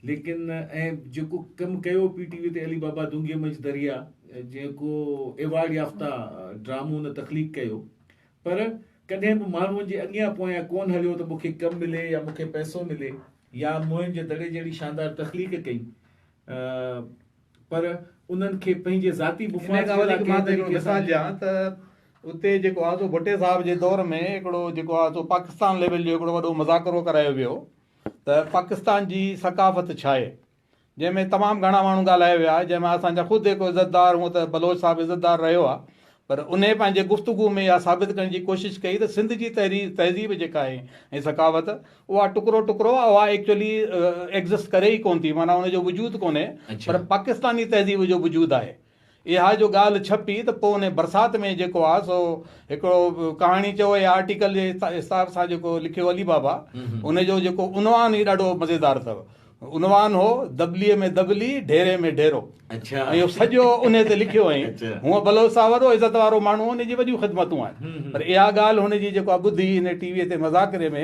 ليڪن ۽ جيڪو ڪم ڪيو پي ٽي وي تي علي بابا دونگي مچ دريا جيڪو ايوارڊ يافتا ڊرامو ان تخليق ڪيو پر ڪڏهن به ماڻهون جي اڳيان پويان ڪون هليو ته مونکي ڪم ملي يا مونکي پئسو ملي يا موهن جي دڙي جهڙي شاندار تخليق ڪئي پر انهن کي پنهنجي ذاتي مفاد جي لاء ڪنهن طريقي سان ڏيان ته اتي جيڪو آهي سو ڀٽي صاحب جي دور ۾ هڪڙو جيڪو آهي سو پاڪستان ليول جو هڪڙو وڏو مذاڪرو ڪرايو ويو ته پاڪستان جي ثقافت ڇاهي؟ جنهن ۾ تمام گهڻا ماڻهو ڳالهايا ويا جنهن ۾ اسان جا خود هڪ عزتدار هونء ته بلوچ صاحب عزتدار رهيو آهي پر انهي پنهنجي گفتگو ۾ اها ثابت ڪرڻ جي ڪوشش ڪئي ته سنڌ جي تحرير تهذيب جيڪا آهي ۽ ثقافت اها ٽڪرو ٽڪرو آهي اها ايڪچولي ايگزسٽ ڪري ئي ڪونه ٿي معنيٰ ان جو وجود ڪونهي پر پاڪستاني تهذيب جو وجود آهي اها جو ڳالهه ڇپي ته پوء انهي برسات ۾ جيڪو آ سو هڪڙو ڪهاڻي چئو يا آرٽيڪل جي حساب سان جيڪو لکيو علي بابا ان جو جيڪو عنوان هي ڏاڍو مزيدار اٿو. عنوان هو دٻلي ۾ دٻلي ڍيري ۾ ڍيرو ۽ اهو سڄو انهي تي لکيو هئائين. هونء بلوچ صاحب وڏو عزت وارو ماڻهو هو انهي جي وڏيون خدمتون آهن پر اها ڳالهه هن جي جيڪو آ ٻڌي انهي ٽي وي تي مذاڪري ۾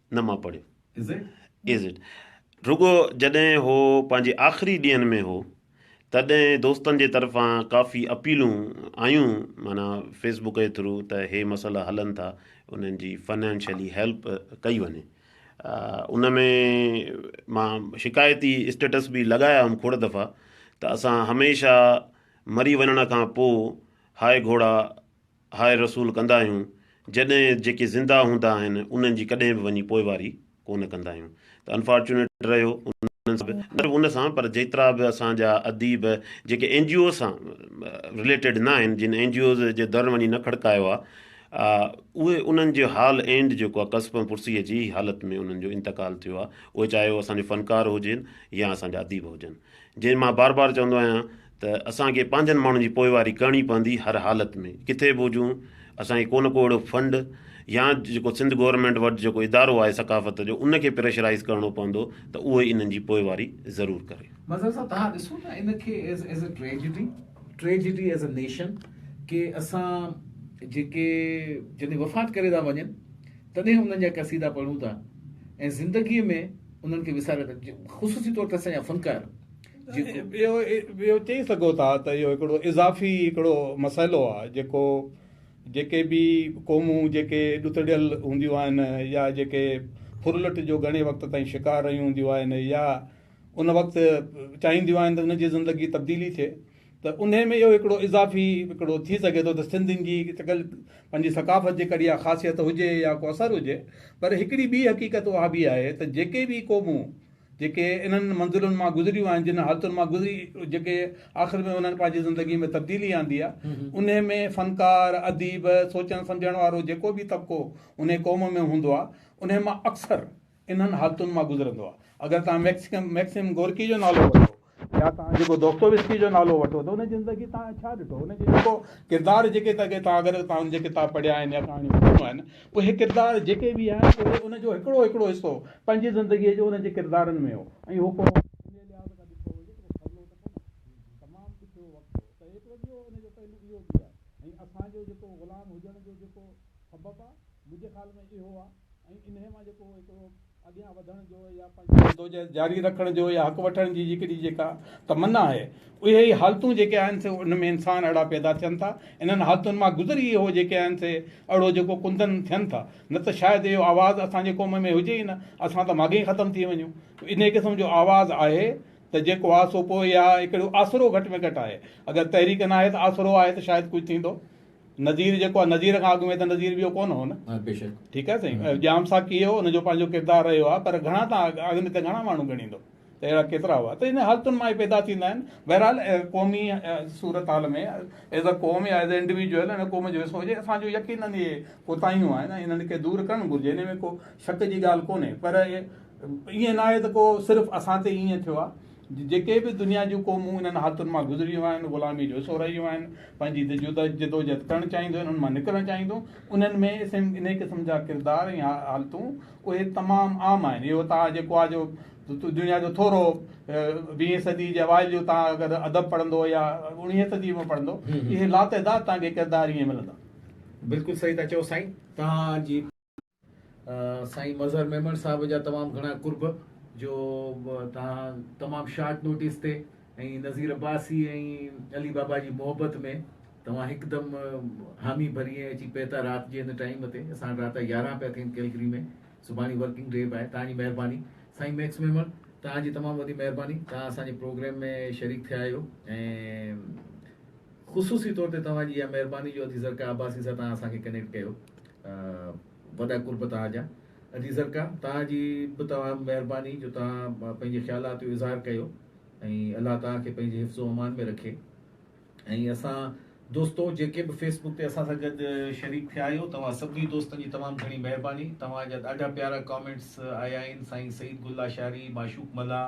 نه مان پڙهيو. Is it؟ رڳو جڏهن هو پنهنجي آخري ڏينهن ۾ هو تڏهن دوستن جي طرفان ڪافي اپيلون آيون معنيٰ فيس بوڪ جي ٿرو ته هي مسئلا هلن ٿا انهن جي فنانشلي هيلپ ڪئي وڃي ان ۾ مان شڪايتي اسٽيٽس به لڳايا هئم کوڙ دفعا ته اسان هميشه مري وڃڻ کان پوء هاء گهوڙا هاء رسول ڪندا آهيون جڏهن جيڪي زنده هوندا آهن انهن جي ڪڏهن به وڃي پوئواري ڪونه ڪندا آهيون ته انفارچونيٽ رهيو انهن سان به نه صرف ان سان پر جيترا به اسان جا اديب جيڪي اين جي او سان رليٽيڊ نه آهن جن اين جي اوز جي در وڃي نه کڙڪايو آهي اهي انهن جو حال اينڊ جيڪو آهي ڪسب ۽ پرسيء جي حالت ۾ انهن جو انتقال ٿيو آهي اهي چاهي هو اسان جي فنڪار هجن يا اسان جا اديب هجن جنهن مان بار بار چوندو آهيان ته اسان کي پنهنجن ماڻهن جي پوئواري ڪرڻي پوندي هر حالت ۾ ڪٿي به هجون اسان کي ڪو نه ڪو اهڙو فنڊ يا جيڪو سنڌ گورنمينٽ وٽ جيڪو ادارو آهي ثقافت جو ان کي پريشرائيز ڪرڻو پوندو ته اهو انهن جي پوئواري ضرور ڪري. مظهر صاحب توهان ڏسو ته ان کي is is a tragedy tragedy is a nation ڪي اسان جيڪي جڏهن وفات ڪري ٿا وڃن تڏهن انهن جا قصيدا پڙهون ٿا ۽ زندگي ۾ انهن کي وساري ٿا خصوصي طور تي اسان جا فنڪار جيڪو اهو چئي سگهو ٿا ته اهو هڪڙو اضافي هڪڙو مسئلو آهي جيڪو جيڪي به قومون جيڪي ڏتڙيل هونديون آهن يا جيڪي ڦرلٽ جو گهڻي وقت تائين شڪار رهيون هونديون آهن يا ان وقت چاهينديون آهن ته ان جي زندگي تبديلي ٿئي ته ان ۾ اهو هڪڙو اضافي هڪڙو ٿي سگهي ٿو ته سنڌين جي پنهنجي ثقافت جي ڪڙي خاصيت هجي يا ڪو اثر هجي پر هڪڙي ٻي حقيقت اها به آهي ته جيڪي به قومون جيڪي انهن منزلن مان گذريون آهن، جن حالتن مان گذري جيڪي آخر ۾ انهن پنهنجي زندگي ۾ تبديلي آندي آهي، انهي ۾ فنڪار، اديب، سوچڻ سمجهڻ وارو جيڪو به طبقو انهي قوم ۾ هوندو آهي، انهي مان اڪثر انهن حالتن مان گذرندو آهي. اگر توهان ميڪسيم گورڪي جو نالو وٺو. يا توهان جيڪو دوستويسڪي جو نالو وٺو ته ان جي زندگي توهان ڇا ڏٺو؟ ان جي جيڪو ڪردار جيڪي توهان اگر توهان ان جا ڪتاب پڙهيا آهن يا ڪهاڻيون پڙهيون آهن اهي ڪردار جيڪي به آهن اهي ان جو هڪڙو هڪڙو حصو پنهنجي زندگي جو ان جي ڪردارن ۾ هو ۽ هو ڪو اسان جو جيڪو غلام هجڻ جو جيڪو سبب آهي منهنجي خيال ۾ اهو آهي جدوجهد جاري رکڻ جو يا حق وٺڻ جي جيڪڏهن جيڪا تمنا آهي اهي ئي حالتون جيڪي آهن سي ان ۾ انسان اهڙا پيدا ٿين ٿا انهن حالتن مان گذري ئي اهو جيڪي آهن سي اهڙو جيڪو ڪندن ٿين ٿا نه ته شايد اهو آواز اسان جي قوم ۾ هجي ئي نه اسان ته ماڳهين ختم ٿي وڃون انهي قسم جو آواز آهي ته جيڪو آهي سو پوء يا هڪڙو آسرو گهٽ ۾ گهٽ آهي اگر تحريڪ ناهي ته آسرو آهي ته شايد ڪجهه ٿيندو نذير جيڪو آهي نذير کان اڳ ۾ ته نذير ٻيو ڪونه هو نه. ها بيشڪ. ٺيڪ آهي سائين ۽ ڄام صاحب ڪيئي هو ان جو پنهنجو ڪردار رهيو آهي پر گهڻا تان اڳ ۾ ته گهڻا ماڻهو ڳڻيندو ته اهڙا ڪيترا هئا ته ان حالتن مان ئي پيدا ٿيندا آهن بهرحال قومي صورتحال ۾ ايز اي قوم يا ايز اي انڊويجوئل ان قوم جو حصو هجي اسان جو يقينن اهي ڪوتاهيون آهن ۽ انهن کي دور ڪرڻ گهرجي ان ۾ ڪو شڪ جي ڳالهه ڪونهي پر ائين ناهي ته ڪو صرف اسان تي ائين ٿيو آهي جيڪي به دنيا جون قومون انهن حالتن مان گذريون آهن، غلامي جو حصو رهيون آهن، پنهنجي جدوجهد ڪرڻ چاهينديون آهن، ان مان نڪرڻ چاهينديون، انهن ۾ انهيء قسم جا ڪردار ۽ حالتون اهي تمام عام آهن. اهو تان جيڪو آ جو دنيا جو ٿورو ويهين صديء جي اوائل جو تان اگر ادب پڙهندو يا اڻويهين صديء ۾ پڙهندو، اهي لاتعداد تان کي ڪردار ائين ملندا. بلڪل صحيح ٿا چئو سائين تهان جي. سائين مظهر ميمڻ صاحب جا تمام گهڻا قرب جو توهان تمام شارٽ نوٽيس تي ۽ نظير عباسي ۽ علي بابا جي محبت ۾ توهان هڪدم حامي ڀري ۽ اچي پهتا رات جي هن ٽائيم تي اسان رات جا يارهن پيا ٿين ڪيلگري ۾ سڀاڻي ورڪنگ ڊي به آهي توهان جي مهرباني سائين ميڪس ميمڻ توهان جي تمام وڏي مهرباني توهان اسان جي پروگرام ۾ شريڪ ٿيا آهيو ۽ خصوصي طور تي توهان جي اها مهرباني جو ادي زرقا عباسي سان توهان اسان کي ڪنيڪٽ ڪيو وڏا قرب توهان جا ادي زرقا توهان جي به توهان مهرباني جو توهان پنهنجي خيالات جو اظهار ڪيو ۽ الله توهان کي پنهنجي حفظ و امان ۾ رکي ۽ اسان دوستو جيڪي به فيس بڪ تي اسان سان گڏ شريڪ ٿيا آهيو توهان سڀني دوستن جي تمام گهڻي مهرباني توهان جا ڏاڍا پيارا ڪامينٽس آيا آهن سائين سعيد گل لاشاري معشوق ملاح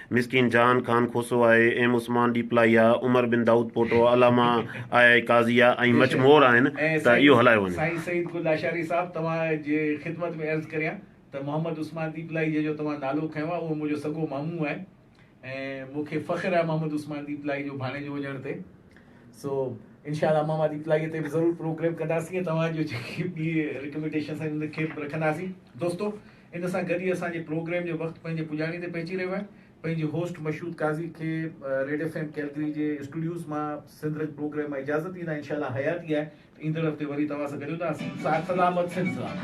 مسڪين جهان خان کوسو آء ايم عثمان ڏيپلائيا، عمر بن دائود پوٽو، علامه آء آء قاضيء ۽ مچ مور آهن ته اهو هلايو وڃي. سائين سعيد گل لاشاري صاحب توهان جي خدمت ۾ عرض ڪريان ته محمد عثمان ڏيپلائي جنهن جو توهان نالو کنيو آهي اهو منهنجو سڳو مامو آهي ۽ مون کي فخر آهي محمد عثمان ڏيپلائي جو ڀاڻيجو هجڻ تي سو انشاء الله ماما ڏيپلائيء تي به ضرور پروگريم ڪنداسين ۽ توهان جو جيڪي به رڪميڊيشنس آهن ان کي به رکنداسين دوستو ان سان گڏ ئي اسان جي پروگرام جو وقت پنهنجي پڄاڻي تي پهچي رهيو آهي. پنهنجي هوسٽ مشهود قاضي کي ريڊ ايف ايم ڪيلگري جي اسٽوڊيوز مان سنڌ رنگ پروگرام مان اجازت ڏيندا انشاء الله حياتي آهي ته ايندڙ هفتي وري توهان سان گڏيونداسين صحت سلامت سنڌ سلامت.